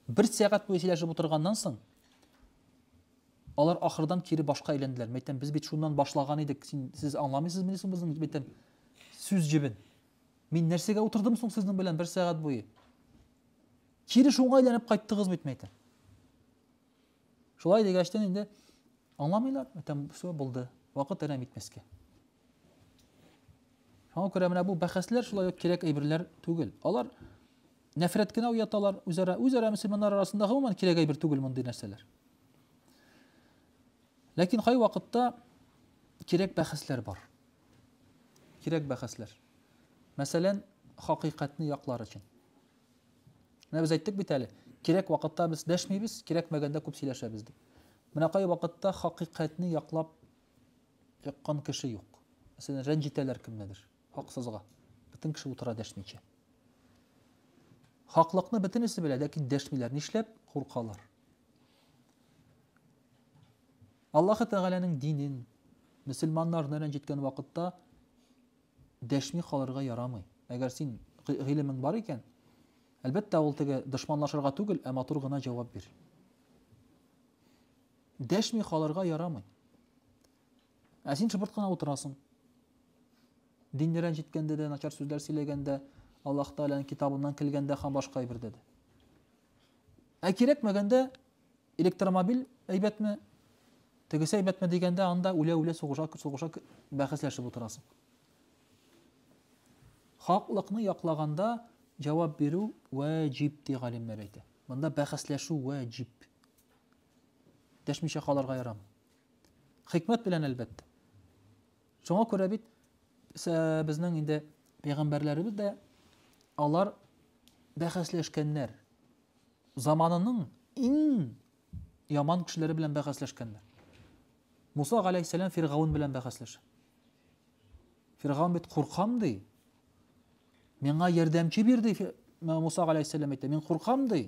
Бер сәгать буе сөйләшеп утырганнан соң, алар ахырдан кире башка әйләнделәр. Мәйтәм, без бит шуннан башлаган идек. Син сез аңламыйсыз мени соң безнең мәйтәм сүз җебен? Мин нәрсәгә утырдым соң сезнең белән бер сәгать буе? Кире шуңа әйләнеп кайттыгыз бит, мәйтәм. Шулай дигәчтән инде аңламыйлар, мәйтәм, все булды. Вакыт әрәм итмәскә. Шуңа күрә менә бу бәхәсләр шулай ук кирәк әйберләр түгел. Алар нәфрәт кенә уяталар үзара, үзара мөселманнар арасында гомумән кирәк әйбер түгел мондый нәрсәләр. Ләкин кай вакытта кирәк бәхәсләр бар. кирәк бәхәсләр. Мәсәлән, хакыйкатьне яклар өчен. Менә без әйттек бит әле, кирәк вакытта без дәшмибез, кирәкмәгәндә күп сөйләшәбез дип. Менә кай вакытта хакыйкатьне яклап яккан кеше юк. Мәсәлән, рәнҗитәләр кемнедер, хаксызга. Бөтен кеше утыра дәшмичә. Хаклыкны бөтенесе белә, ләкин дәшмиләр. Нишләп? Куркалар. Аллаһы Тәгаләнең динен, мөселманнарны рәнҗеткән вакытта дәшми калырга ярамый. Әгәр син гыйлемең бар икән, әлбәттә, ул теге дошманлашырга түгел, ә матур гына җавап бир. Дәшми калырга ярамый. Ә син шыбырт кына утырасың. Динне рәнҗеткәндә дә, начар сүзләр сөйләгәндә, Аллаһ Тәгаләнең китабыннан килгәндә һәм башка әйбердә дә. Ә кирәкмәгәндә электромобиль әйбәтме, тегесе әйбәтме дигәндә анда үлә-үлә сугыша, сугыша бәхәсләшеп утырасың. Хаклыкны яклаганда җавап бирү вәҗиб ди галимнәр әйтә. Монда бәхәсләшү вәҗиб. Дәшмичә калырга ярамый. Хикмәт белән әлбәттә. Шуңа күрә бит безнең инде пәйгамбәрләребез дә алар бәхәсләшкәннәр. Заманының иң яман кешеләре белән бәхәсләшкәннәр. Муса галәйһиссәлам Фиргаун белән бәхәсләшә. Фиргаун бит куркам ди. Миңа ярдәмче бир ди Муса галәйһиссәлам әйтә. Мин куркам ди.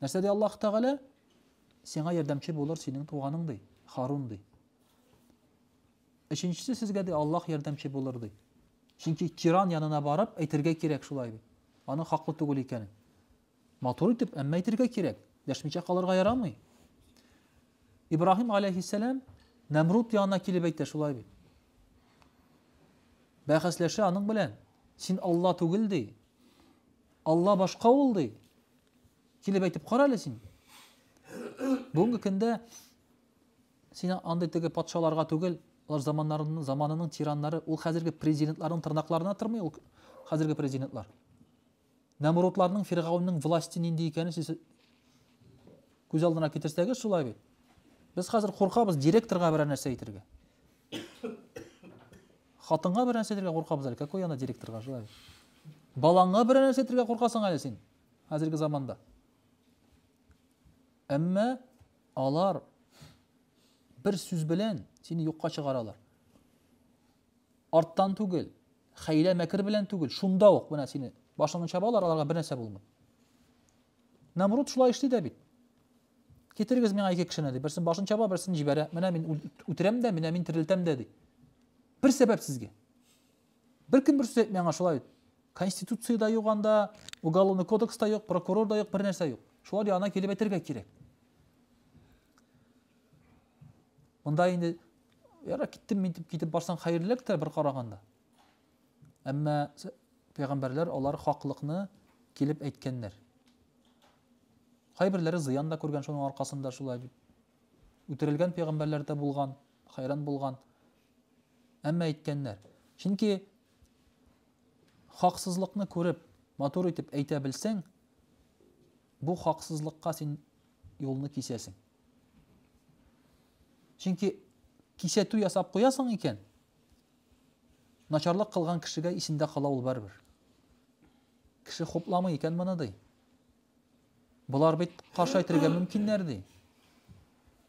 Нәрсә ди Аллаһ Тәгалә? Сиңа ярдәмче булыр синең туганың ди, Харун ди. Өченчесе сезгә ди Аллаһ ярдәмче булыр ди. Чөнки тиран янына барып әйтергә кирәк шулай бит. Аның хаклы түгел икәнен. Матур итеп, әмма әйтергә кирәк. Дәшмичә калырга ярамый. Ибраһим алейхиссалам Нәмрут янына килеп әйтә шулай бит. Бәхәсләшә аның белән. Син Алла түгел ди. Алла башка ул, ди. Килеп әйтеп кара әле син. Бүгенге көндә син андый теге патшаларга түгел, алар заманнарының заманының тираннары, ул хәзерге президентларның тырнакларына тырмый ул хәзерге президентлар. Нәмрудларның, Фиргаунның власте нинди икәнен сез күз алдына китерсәгез шулай бит. Без хәзер куркабыз директорга берәр нәрсә әйтергә. Хатынга бер нәрсә әйтергә куркабыз әле, какой она директорга желаю. Балаңа бер нәрсә әйтергә куркасың әле син хәзерге заманда. Әмма алар бер сүз белән сине юкка чыгаралар. Арттан түгел, хәйлә мәкер белән түгел, шунда ук менә сине башыңны чабалар, аларга бер нәрсә булмый. Намруд шулай эшли дә бит. Китерегез миңа ике кешене, ди. Берсен башын чаба, берсен җибәрә. Менә мин үтерәм дә, менә мин терелтәм дә, ди. Бер сәбәп сезгә. Бер кем бер сүз әйтми аңа шулай бит. Конституциядә юк анда, уголовный кодекста юк, прокурор да юк, бер нәрсә юк. Шулар янына килеп әйтергә кирәк. Монда инде яра киттем мин китеп барсаң хәерлерәк тә бер караганда. Әмма пәйгамбәрләр алар хаклыкны килеп әйткәннәр. Кайберләре зыян да күргән шуның аркасында шулай дип. Үтерелгән пәйгамбәрләр дә булган, хәйран булган. Әмма әйткәннәр. Чөнки хаксызлыкны күреп, матур итеп әйтә белсәң, бу хаксызлыкка син юлны кисәсең. Чөнки кисәтү ясап куясың икән, начарлык кылган кешегә исендә кала ул барыбер. Кеше хупламый икән моны ди. Болар бит каршы әйтергә мөмкиннәр ди.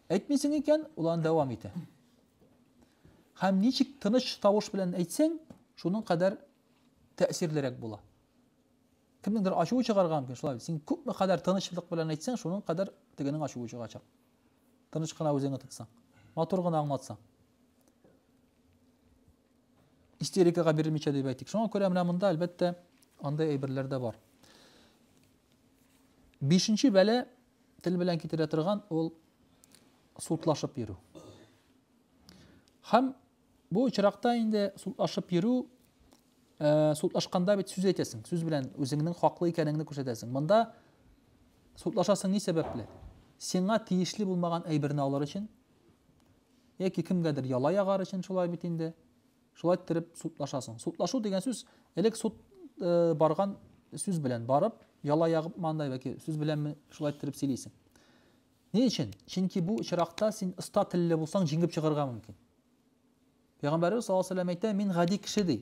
Әйтмисең икән, ул аны дәвам итә. Һәм ничек тыныч тавыш белән әйтсәң, шуның кадәр тәэсирлерәк була. Кемнеңдер ачуы чыгарган мөмкин, шулай. Син күпме кадәр тынычлык белән әйтсәң, шуның кадәр тегенең ачуы чыгачак. Тыныч кына үзеңне тотсаң, матур гына аңлатсаң. истерикага бирелмичә дип әйтик. Шуңа күрә менә монда әлбәттә андай әйберләр дә бар. Бишенче бәлә тел белән китерә торган ул сутлашып йөрү. Һәм бу очракта инде сутлашып йөрү э, сутлашканда бит сүз әйтәсең, сүз белән үзеңнең хаклы икәнеңне күрсәтәсең. Монда сутлашасың ни сәбәпле? Сиңа тиешле булмаган әйберне алар өчен Яки кемгәдер яла ягар өчен шулай бит инде. Шулай иттереп судлашасың. Судлашу дигән сүз элек суд барган сүз белән барып, яла ягып мандай яки сүз беләнме шулай иттереп сөйлисең. Ни өчен? Чөнки бу очракта син оста телле булсаң, җиңгеп чыгарга мөмкин. Пәйгамбәрбез саллаллаһу алейһи ва әйтә, мин гади кеше ди.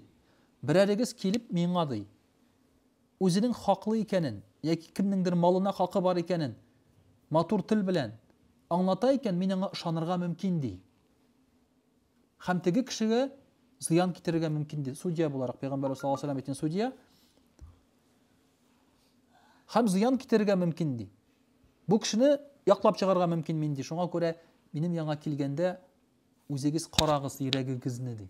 Берәрегез килеп миңа ди. Үзенең хаклы икәнен яки кемнеңдер малына хакы бар икәнен матур тел белән аңлата икән, мин аңа ышанырга мөмкин, ди. Һәм теге кешегә зыян китерергә мөмкин, ди. Судья буларак, пәйгамбәрбез саллаллаһу алейһи ва сәлләм әйткән судья. Һәм зыян китерергә мөмкин, ди. Бу кешене яклап чыгарга мөмкин мин, ди. Шуңа күрә минем яңа килгәндә үзегез карагыз йөрәгегезне, ди.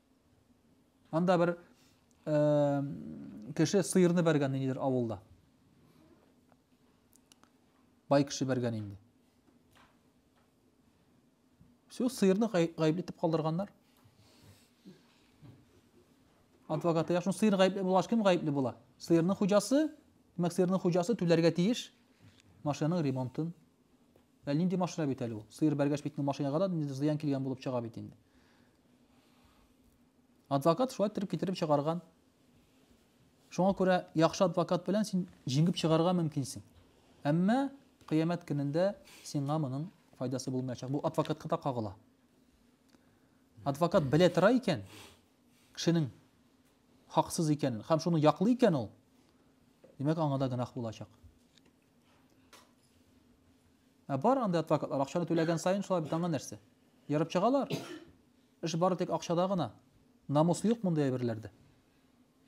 Анда бер э, кеше сыерны бәргән ниндидер авылда. Бай кеше бәргән инде. Все, сыерны гаепле итеп калдырганнар. Адвокаты яшын сыер гаепле булгач кем гаепле була? Сыерның хуҗасы, димәк сыерның хуҗасы түләргә тиеш машинаның ремонтын. Ә нинди машина бит әле ул? Сыер бәргәч бит машинага да зыян килгән булып чыга бит инде. Адвокат шулай иттереп китереп чыгарган. Шуңа күрә яхшы адвокат белән син җиңеп чыгарга мөмкинсең. Әмма кыямәт көнендә сиңа моның файдасы булмаячак. Бу адвокатка да кагыла. Адвокат белә тора икән, кешенең хаксыз икәнен һәм шуны яклый икән ул, димәк, аңа да гөнаһ булачак. Ә бар анда адвокатлар акчаны түләгән саен шулай бит аңа нәрсә? Ярып чыгалар. Эш бары тик акчада гына. Намус юк монда әйберләрдә.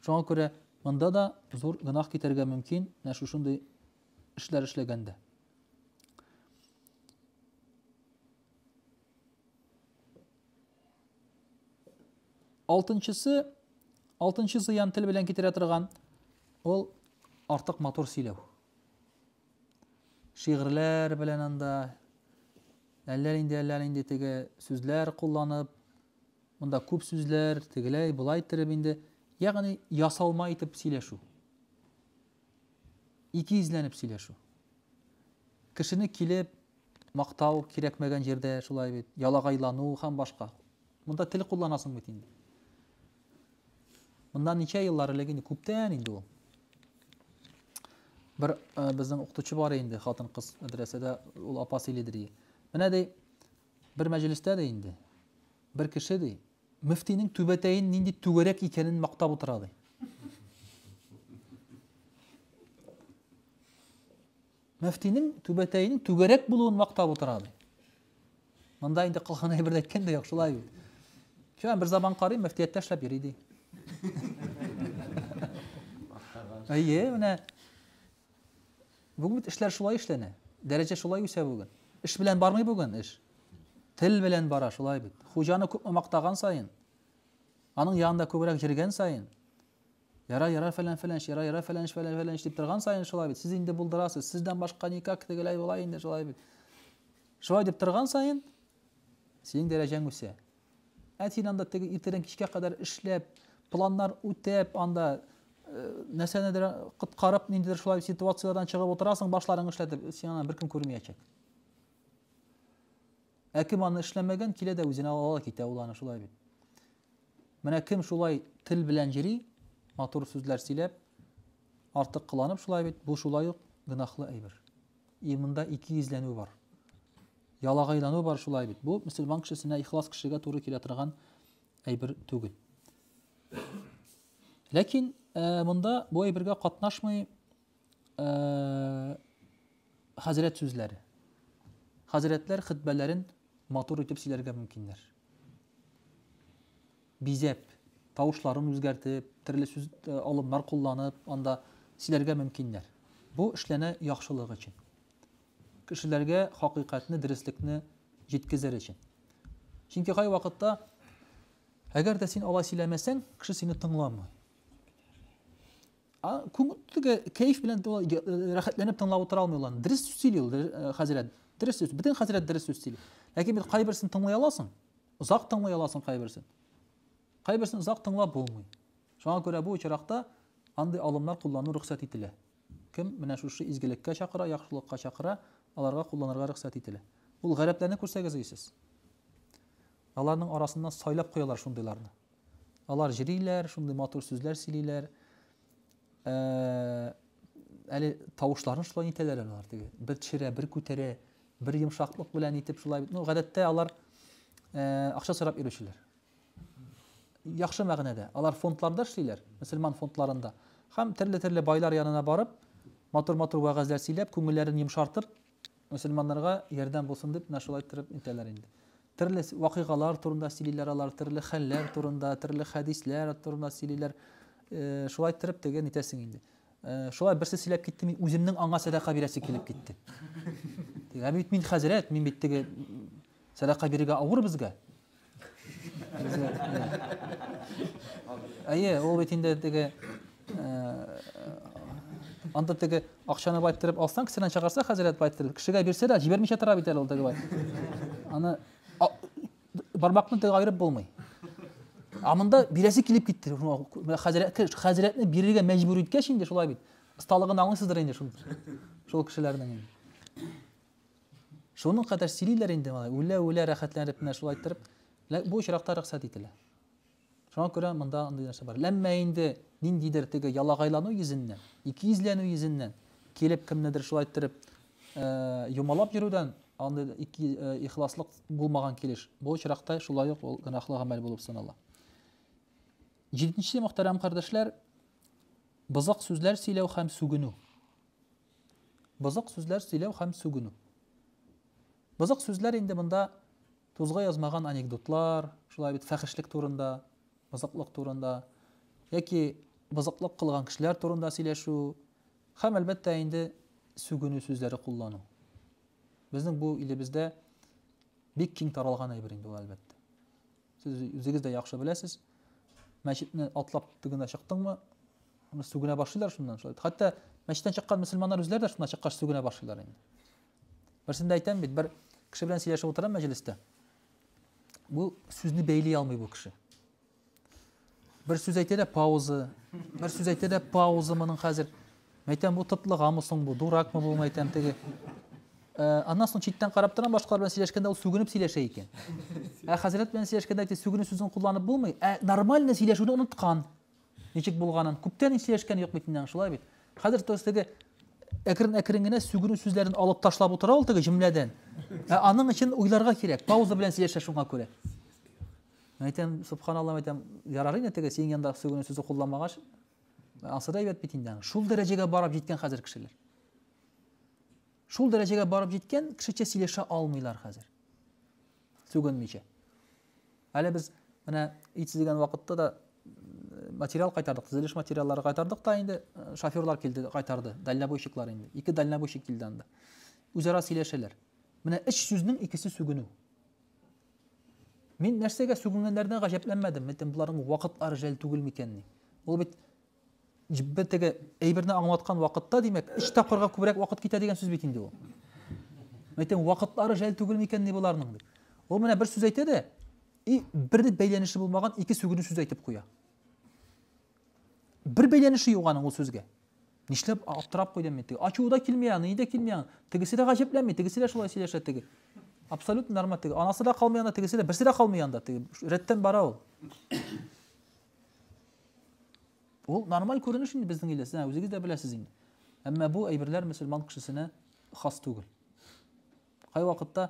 Шуңа күрә монда да зур гынах китәргә мөмкин, менә шушындый эшләр эшләгәндә. Алтынчысы, алтынчы зыян тел белән китерә торган, ул артык матур сөйләү. Шигырьләр белән анда әллә инде әллә инде теге сүзләр кулланып, монда күп сүзләр, тегеләй, болай иттереп инде, ягъни ясалма итеп сөйләшү. Икейөзләнеп сөйләшү. Кешене килеп мактау кирәкмәгән җирдә шулай бит, ялагайлану һәм башка. Монда тел кулланасың бит инде. Моннан ничә еллар элек инде күптән инде ул. Бер безнең укытучы бар инде, хатын-кыз мәдрәсәдә ул апа сөйлидер. Менә ди, Бер мәҗлестә дә инде бер кеше, ди, мөфтинең түбәтәен нинди түгәрәк икәнен мактап утыра, ди. Мөфтинең түбәтәенең түгәрәк булуын мактап утыра, ди. Монда инде кылган әйберне әйткән дә юк, шулай бит. Чөнки бер заман карый мөфтияттә эшләп йөри, ди. Әйе, менә Бүген бит эшләр шулай эшләнә. Дәрәҗә шулай үсә бүген. Эш белән бармый бүген эш. Тел белән бара, шулай бит. Хуҗаны күпме мактаган саен, аның янында күбрәк йөргән саен, яра, яра, фәлән, фәлән, яра, яра, фәлән, фәлән, фәлән, дип торган саен шулай бит. Сез инде булдырасыз, сездән башка никак тегеләй була инде шулай бит. Шулай дип торган саен, синең дәрәҗәң үсә. Ә син анда теге иртәдән кичкә кадәр эшләп, планнар үтәп, анда э, нәрсәнедер коткарып, ниндидер шулай ситуацияләрдән чыгып утырасың, башларың эшләтеп, син аны беркем күрмәячәк. Ә кем аны эшләмәгән, килә дә үзенә ала китә ул аны шулай бит. Менә кем шулай тел белән йөри, матур сүзләр сөйләп, артык кыланып шулай бит, бу шулай ук гөнаһлы әйбер. И монда ике йөзләнү бар. Ялагайлану бар шулай бит. Бу мөселман кешесенә, ихлас кешегә туры килә торган әйбер түгел. Ләкин э, монда бу әйбергә катнашмый э, хәзрәт сүзләре. Хәзрәтләр хитбәләрен матур итеп сөйләргә мөмкиннәр. Бизәп, тавышларын үзгәртеп, төрле сүз э, алымнар кулланып, анда сөйләргә мөмкиннәр. Бу эшләнә яхшылык өчен. Кешеләргә хакыйкатьне, дөреслекне җиткезер өчен. Чөнки кайвакытта, әгәр дә син алай сөйләмәсәң, кеше сине тыңламый. Күңелдәге кәеф белән рәхәтләнеп тыңлап утыра алмый ул. Дөрес сөйли ул хәзрәт. Дөрес сүз. Бөтен хәзрәт дөрес сүз сөйли. Ләкин бит кайберсен тыңлый аласың. Озак тыңлый аласың кайберсен. Кайберсен озак тыңлап булмый. Шуңа күрә бу очракта андый алымнар куллану рөхсәт ителә. Кем менә шушы изгелеккә чакыра, яхшылыкка чакыра, аларга кулланырга рөхсәт ителә. Ул гарәпләрне күрсәгез өйсез. Аларның арасыннан сайлап куялар шундыйларны. Алар җриләр, шундый матур сүзләр сөйлиләр. Ә, әле тавышларын шулай итәләр алар теге. Бер төшерә, бер күтәрә, бер йомшаклык белән итеп шулай. Ну, гадәттә алар ә, акча сорап йөрүчеләр. яхшы мәгънәдә. Алар фондларда эшлиләр, мөселман фондларында. Хәм төрле-төрле байлар янына барып, матур-матур вәгазьләр сөйләп, күңелләрен йомшартып, мөселманнарга ярдәм булсын дип, менә шулай торып итәләр инде. Төрле вакыйгалар турында сөйлиләр алар, төрле хәлләр турында, төрле хәдисләр турында сөйлиләр. Э, шулай торып теге нитәсең инде. Э, шулай берсе сөйләп китте, мин үземнең аңа сәдака бирәсе килеп китте. Диген, бит мин хәзрәт, мин бит теге сәдака бирергә авыр безгә. Әйе, ул бит инде теге анда теге акчаны байттырып алсаң, кесәдән чыгарса хәзрәт байттырып, кешегә бирсә дә җибәрмичә тора бит әле ул теге бай. Аны бармакны теге айырып булмый. Ә монда бирәсе килеп китте. Хәзрәткә хәзрәтне бирергә мәҗбүр иткәч инде шулай бит. Осталыгын аңлыйсыздыр инде шул. Шул кешеләрнең инде. Шуның кадәр сөйлиләр инде малай, үлә-үлә рәхәтләнеп менә шулай иттереп, бу очракта рөхсәт ителә. Шуңа күрә монда андый нәрсә бар. Әмма инде ниндидер теге ялагайлану йөзеннән, икейөзләнү йөзеннән килеп кемнедер шулай иттереп юмалап йөрүдән андый ике ихласлык булмаган килеш, бу очракта шулай ук ул гөнаһлы гамәл булып санала. Җиденче мөхтәрәм кардәшләр, бызык сүзләр сөйләү һәм сүгенү. Бозык сүзләр сөйләү һәм сүгенү. Бозык сүзләр инде монда тузга язмаган анекдотлар, шулай бит фәхешлек турында, бозыклык турында, яки бозыклык кылган кешеләр турында сөйләшү һәм әлбәттә инде сүгенү сүзләре куллану. Безнең бу илебездә бик киң таралган әйбер инде ул әлбәттә. Сез үзегез дә яхшы беләсез. Мәчетне атлап тегенә чыктыңмы? Аны сүгенә башлыйлар шуннан шулай. Хәтта мәчеттән чыккан мөселманнар үзләре дә шуннан чыккач сүгенә башлыйлар инде. Берсендә әйтәм бит, бер кеше белән сөйләшеп утырам мәҗлестә. Бу сүзне бәйли алмый бу кеше. Бер сүз әйтә дә пауза. Бер сүз әйтә дә пауза моның хәзер. Мәйтәм бу тытлыгамы соң бу, дуракмы бу мәйтәм теге. Э, аннан соң читтән карап торам башкалар белән сөйләшкәндә ул сүгенеп сөйләшә икән. Ә хәзрәт белән сөйләшкәндә әйтә сүгенү сүзен кулланып булмый. Ә нормально сөйләшүне оныткан. Ничек булганын. Күптән сөйләшкән юк бит инде шулай бит. Хәзер тос теге әкрен-әкрен генә сүгенү сүзләрен алып ташлап утыра ул теге җөмләдән. Ә аның өчен уйларга кирәк. Пауза белән сөйләшә шуңа күрә. Мин әйтәм, субханаллам әйтәм, ярар инде теге синең янда сүгенү сүзе кулланмагач, ансы да әйбәт бит инде. Шул дәрәҗәгә барып җиткән хәзер кешеләр. Шул дәрәҗәгә барып җиткән кешечә сөйләшә алмыйлар хәзер. Сүгенмичә. Әле без менә ит сүзгән вакытта да материал кайтардык, төзелеш материаллары кайтардык та инде э, шоферлар килде, кайтарды, дальнобойщиклар инде. Ике дальнобойщик килде анда. Үзара сөйләшәләр. Менә өч сүзнең икесе сүгенү. Мин нәрсәгә сүгенгәннәренә гаҗәпләнмәдем. Митем буларның вакытлары жәл түгел микәнни? Ул бит бер теге әйберне аңлаткан вакытта, димәк, өч тапкырга күбрәк вакыт китә дигән сүз бит инде ул. Митем вакытлары жәл түгел микәнни буларның дип. Ул менә бер сүз әйтә дә, и бер бәйләнеше булмаган ике сүгенү сүз әйтеп куя. Бер бәйләнеше юк аның ул сүзгә. Нишләп аптырап куйдым мин теге? Ачуы да килми аны, ни дә килми аны. Тегесе дә гаҗәпләнми, тегесе дә шулай сөйләшә теге. Абсолютно нормаль теге. Анасы да калмый анда, тегесе дә, берсе дә калмый анда теге. Рәттән бара ул. Ул нормаль күренеш инде безнең илдә, сез үзегез дә беләсез инде. Әмма бу әйберләр мөселман кешесенә хас түгел. Кай вакытта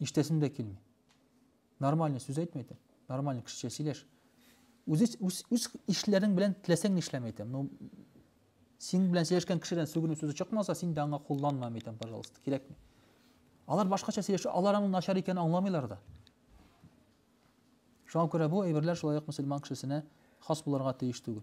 Иштәсем дә килми. Нормально сүз әйтмә әйтәм. Нормально кешечә сөйләш. Үз үз үз ишләрең белән теләсәң нишләм әйтәм. Ну син белән сөйләшкән кешедән сүгенү сүзе чыкмаса, син дә аңа кулланма әйтәм, пожалуйста, кирәкми. Алар башкача сөйләшә, алар аның начар икәнен аңламыйлар да. Шуңа күрә бу әйберләр шулай ук мөселман кешесенә хас булырга тиеш түгел.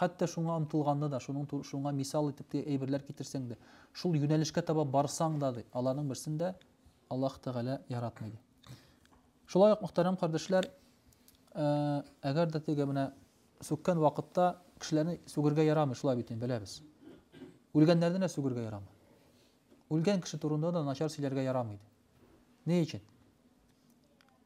Хәтта шуңа омтылганда да, шуның ту, шуңа мисал итеп тә әйберләр китерсәң дә, шул юнәлешкә таба барсаң да, ди, аларның берсен дә Аллаһ Тәгалә яратмый, ди. Шулай ук, мөхтәрәм кардәшләр, э, әгәр дә теге менә сүккән вакытта кешеләрне сүгергә ярамый, шулай бит инде беләбез. Үлгәннәрне дә сүгергә ярамый. Үлгән кеше турында да начар сөйләргә ярамый. Ни өчен?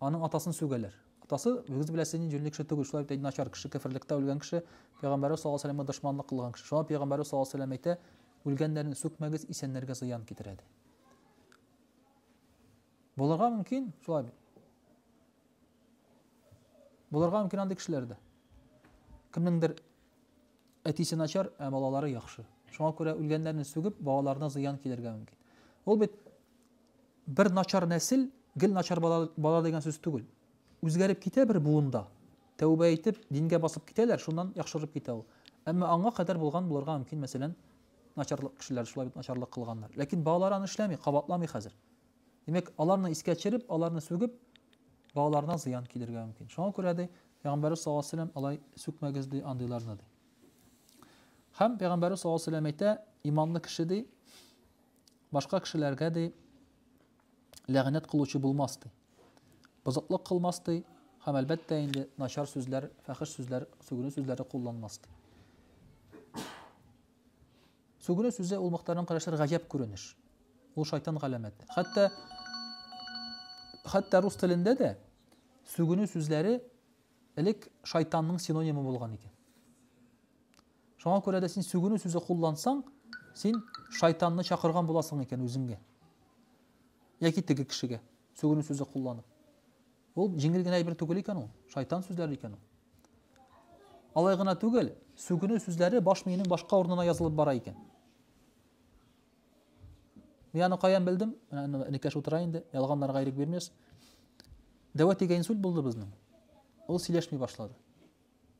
Аның атасын сүгәләр. Атасы, үгез беләсе нинди җүнле кеше түгел, шулай бит әй начар кеше, кеферлектә үлгән кеше, пәйгамбәребез саллаллаһу алейһи вә сәләмгә дошманлык кылган кеше. Шуңа пәйгамбәребез саллаллаһу алейһи вә сәләм әйтә, Үлгәннәрне сүкмәгез, исәннәргә зыян китерә, ди. Булырга мөмкин, шулай бит. Булырга мөмкин андый кешеләр дә. Кемнеңдер әтисе начар, ә балалары яхшы. Шуңа күрә үлгәннәрне сүгеп, балаларына зыян килергә мөмкин. Ул бит Бер начар нәсел, гел начар бала, бала дигән сүз түгел. Үзгәреп китә бер буында. Тәүбә итеп, дингә басып китәләр, шуннан яхшырып китә ул. Әмма аңа кадәр булган булырга мөмкин, мәсәлән, начарлык кешеләр шулай бит начарлык кылганнар. Ләкин балалар аны эшләми, кабатламый хәзер. Димәк, аларны искә төшереп, аларны сүгеп, балаларына зыян килергә мөмкин. Шуңа күрә ди, Пәйгамбәр саллаллаһу алейһи ва алай сүкмәгез ди андыйларны ди. Һәм Пәйгамбәр саллаллаһу алейһи ва әйтә, иманлы кеше ди, башка кешеләргә дә ләгънәт кылучы булмас ди. Бозыклык кылмас ди, һәм әлбәттә инде начар сүзләр, фәхеш сүзләр, сүгенү сүзләре кулланмас ди. Сүгенү сүзе ул мөхтәрәм карашлар гаҗәп күренеш. Ул шайтан галәмәте. Хәтта хәтта рус телендә дә сүгенү сүзләре элек шайтанның синонимы булган икән. Шуңа күрә дә син сүгенү сүзе куллансаң, син шайтанны чакырган буласың икән үзеңгә. Яки теге кешегә сүгенү сүзе кулланып. Ул җиңел генә әйбер түгел икән ул, шайтан сүзләре икән ул. Алай гына түгел, сүгенү сүзләре баш миенең башка урынына язылып бара икән. Мин аны каян белдем? Менә энекәш утыра инде, ялганнарга ирек бирмәс. Дәвә дигән инсульт булды безнең. Ул сөйләшми башлады.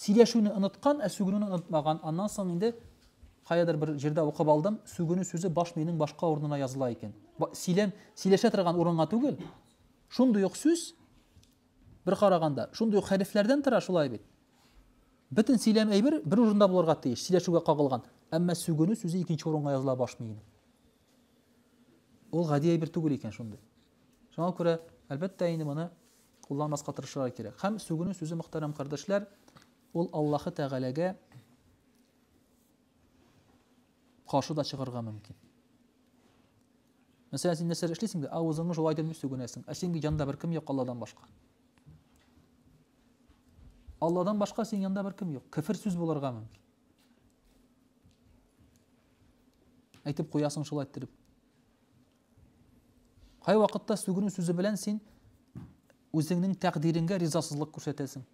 Сөйләшүне оныткан, ә сүгенүне онытмаган. Аннан соң инде каядыр бер җирдә укып алдым, сүгенү сүзе баш миенең башка урынына языла икән. Сөйләм сөйләшә торган урынга түгел. Шундый ук сүз бер караганда, шундый ук хәрефләрдән тора шулай бит. Бөтен сөйләм әйбер бер урында булырга тиеш, сөйләшүгә кагылган. Әмма сүгенү сүзе икенче урынга языла баш миенең. Ул гади әйбер түгел икән шундый. Шуңа күрә, әлбәттә, инде моны кулланмаска тырышырга кирәк. Һәм сүгенү сүзе, мөхтәрәм кардәшләр, ул Аллаһы Тәгаләгә каршы да чыгарга мөмкин. Мәсәлән, син нәрсә эшлисең дә, авызыңны шулай итеп сүгенәсең. Ә синең янда беркем юк Алладан башка. Алладан башка синең янда беркем юк. Кефер сүз булырга мөмкин. Әйтеп куясың шулай иттереп. Кай вакытта сүгенү сүзе белән син үзеңнең тәкъдириңгә ризасызлык күрсәтәсең.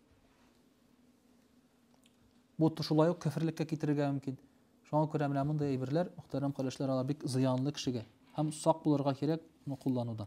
Бу шулай ук кәфирлеккә китерергә мөмкин. Шуңа күрә менә мондый әйберләр, мөхтәрәм кардәшләр, алар бик зыянлы кешегә һәм сак булырга кирәк моны куллануда.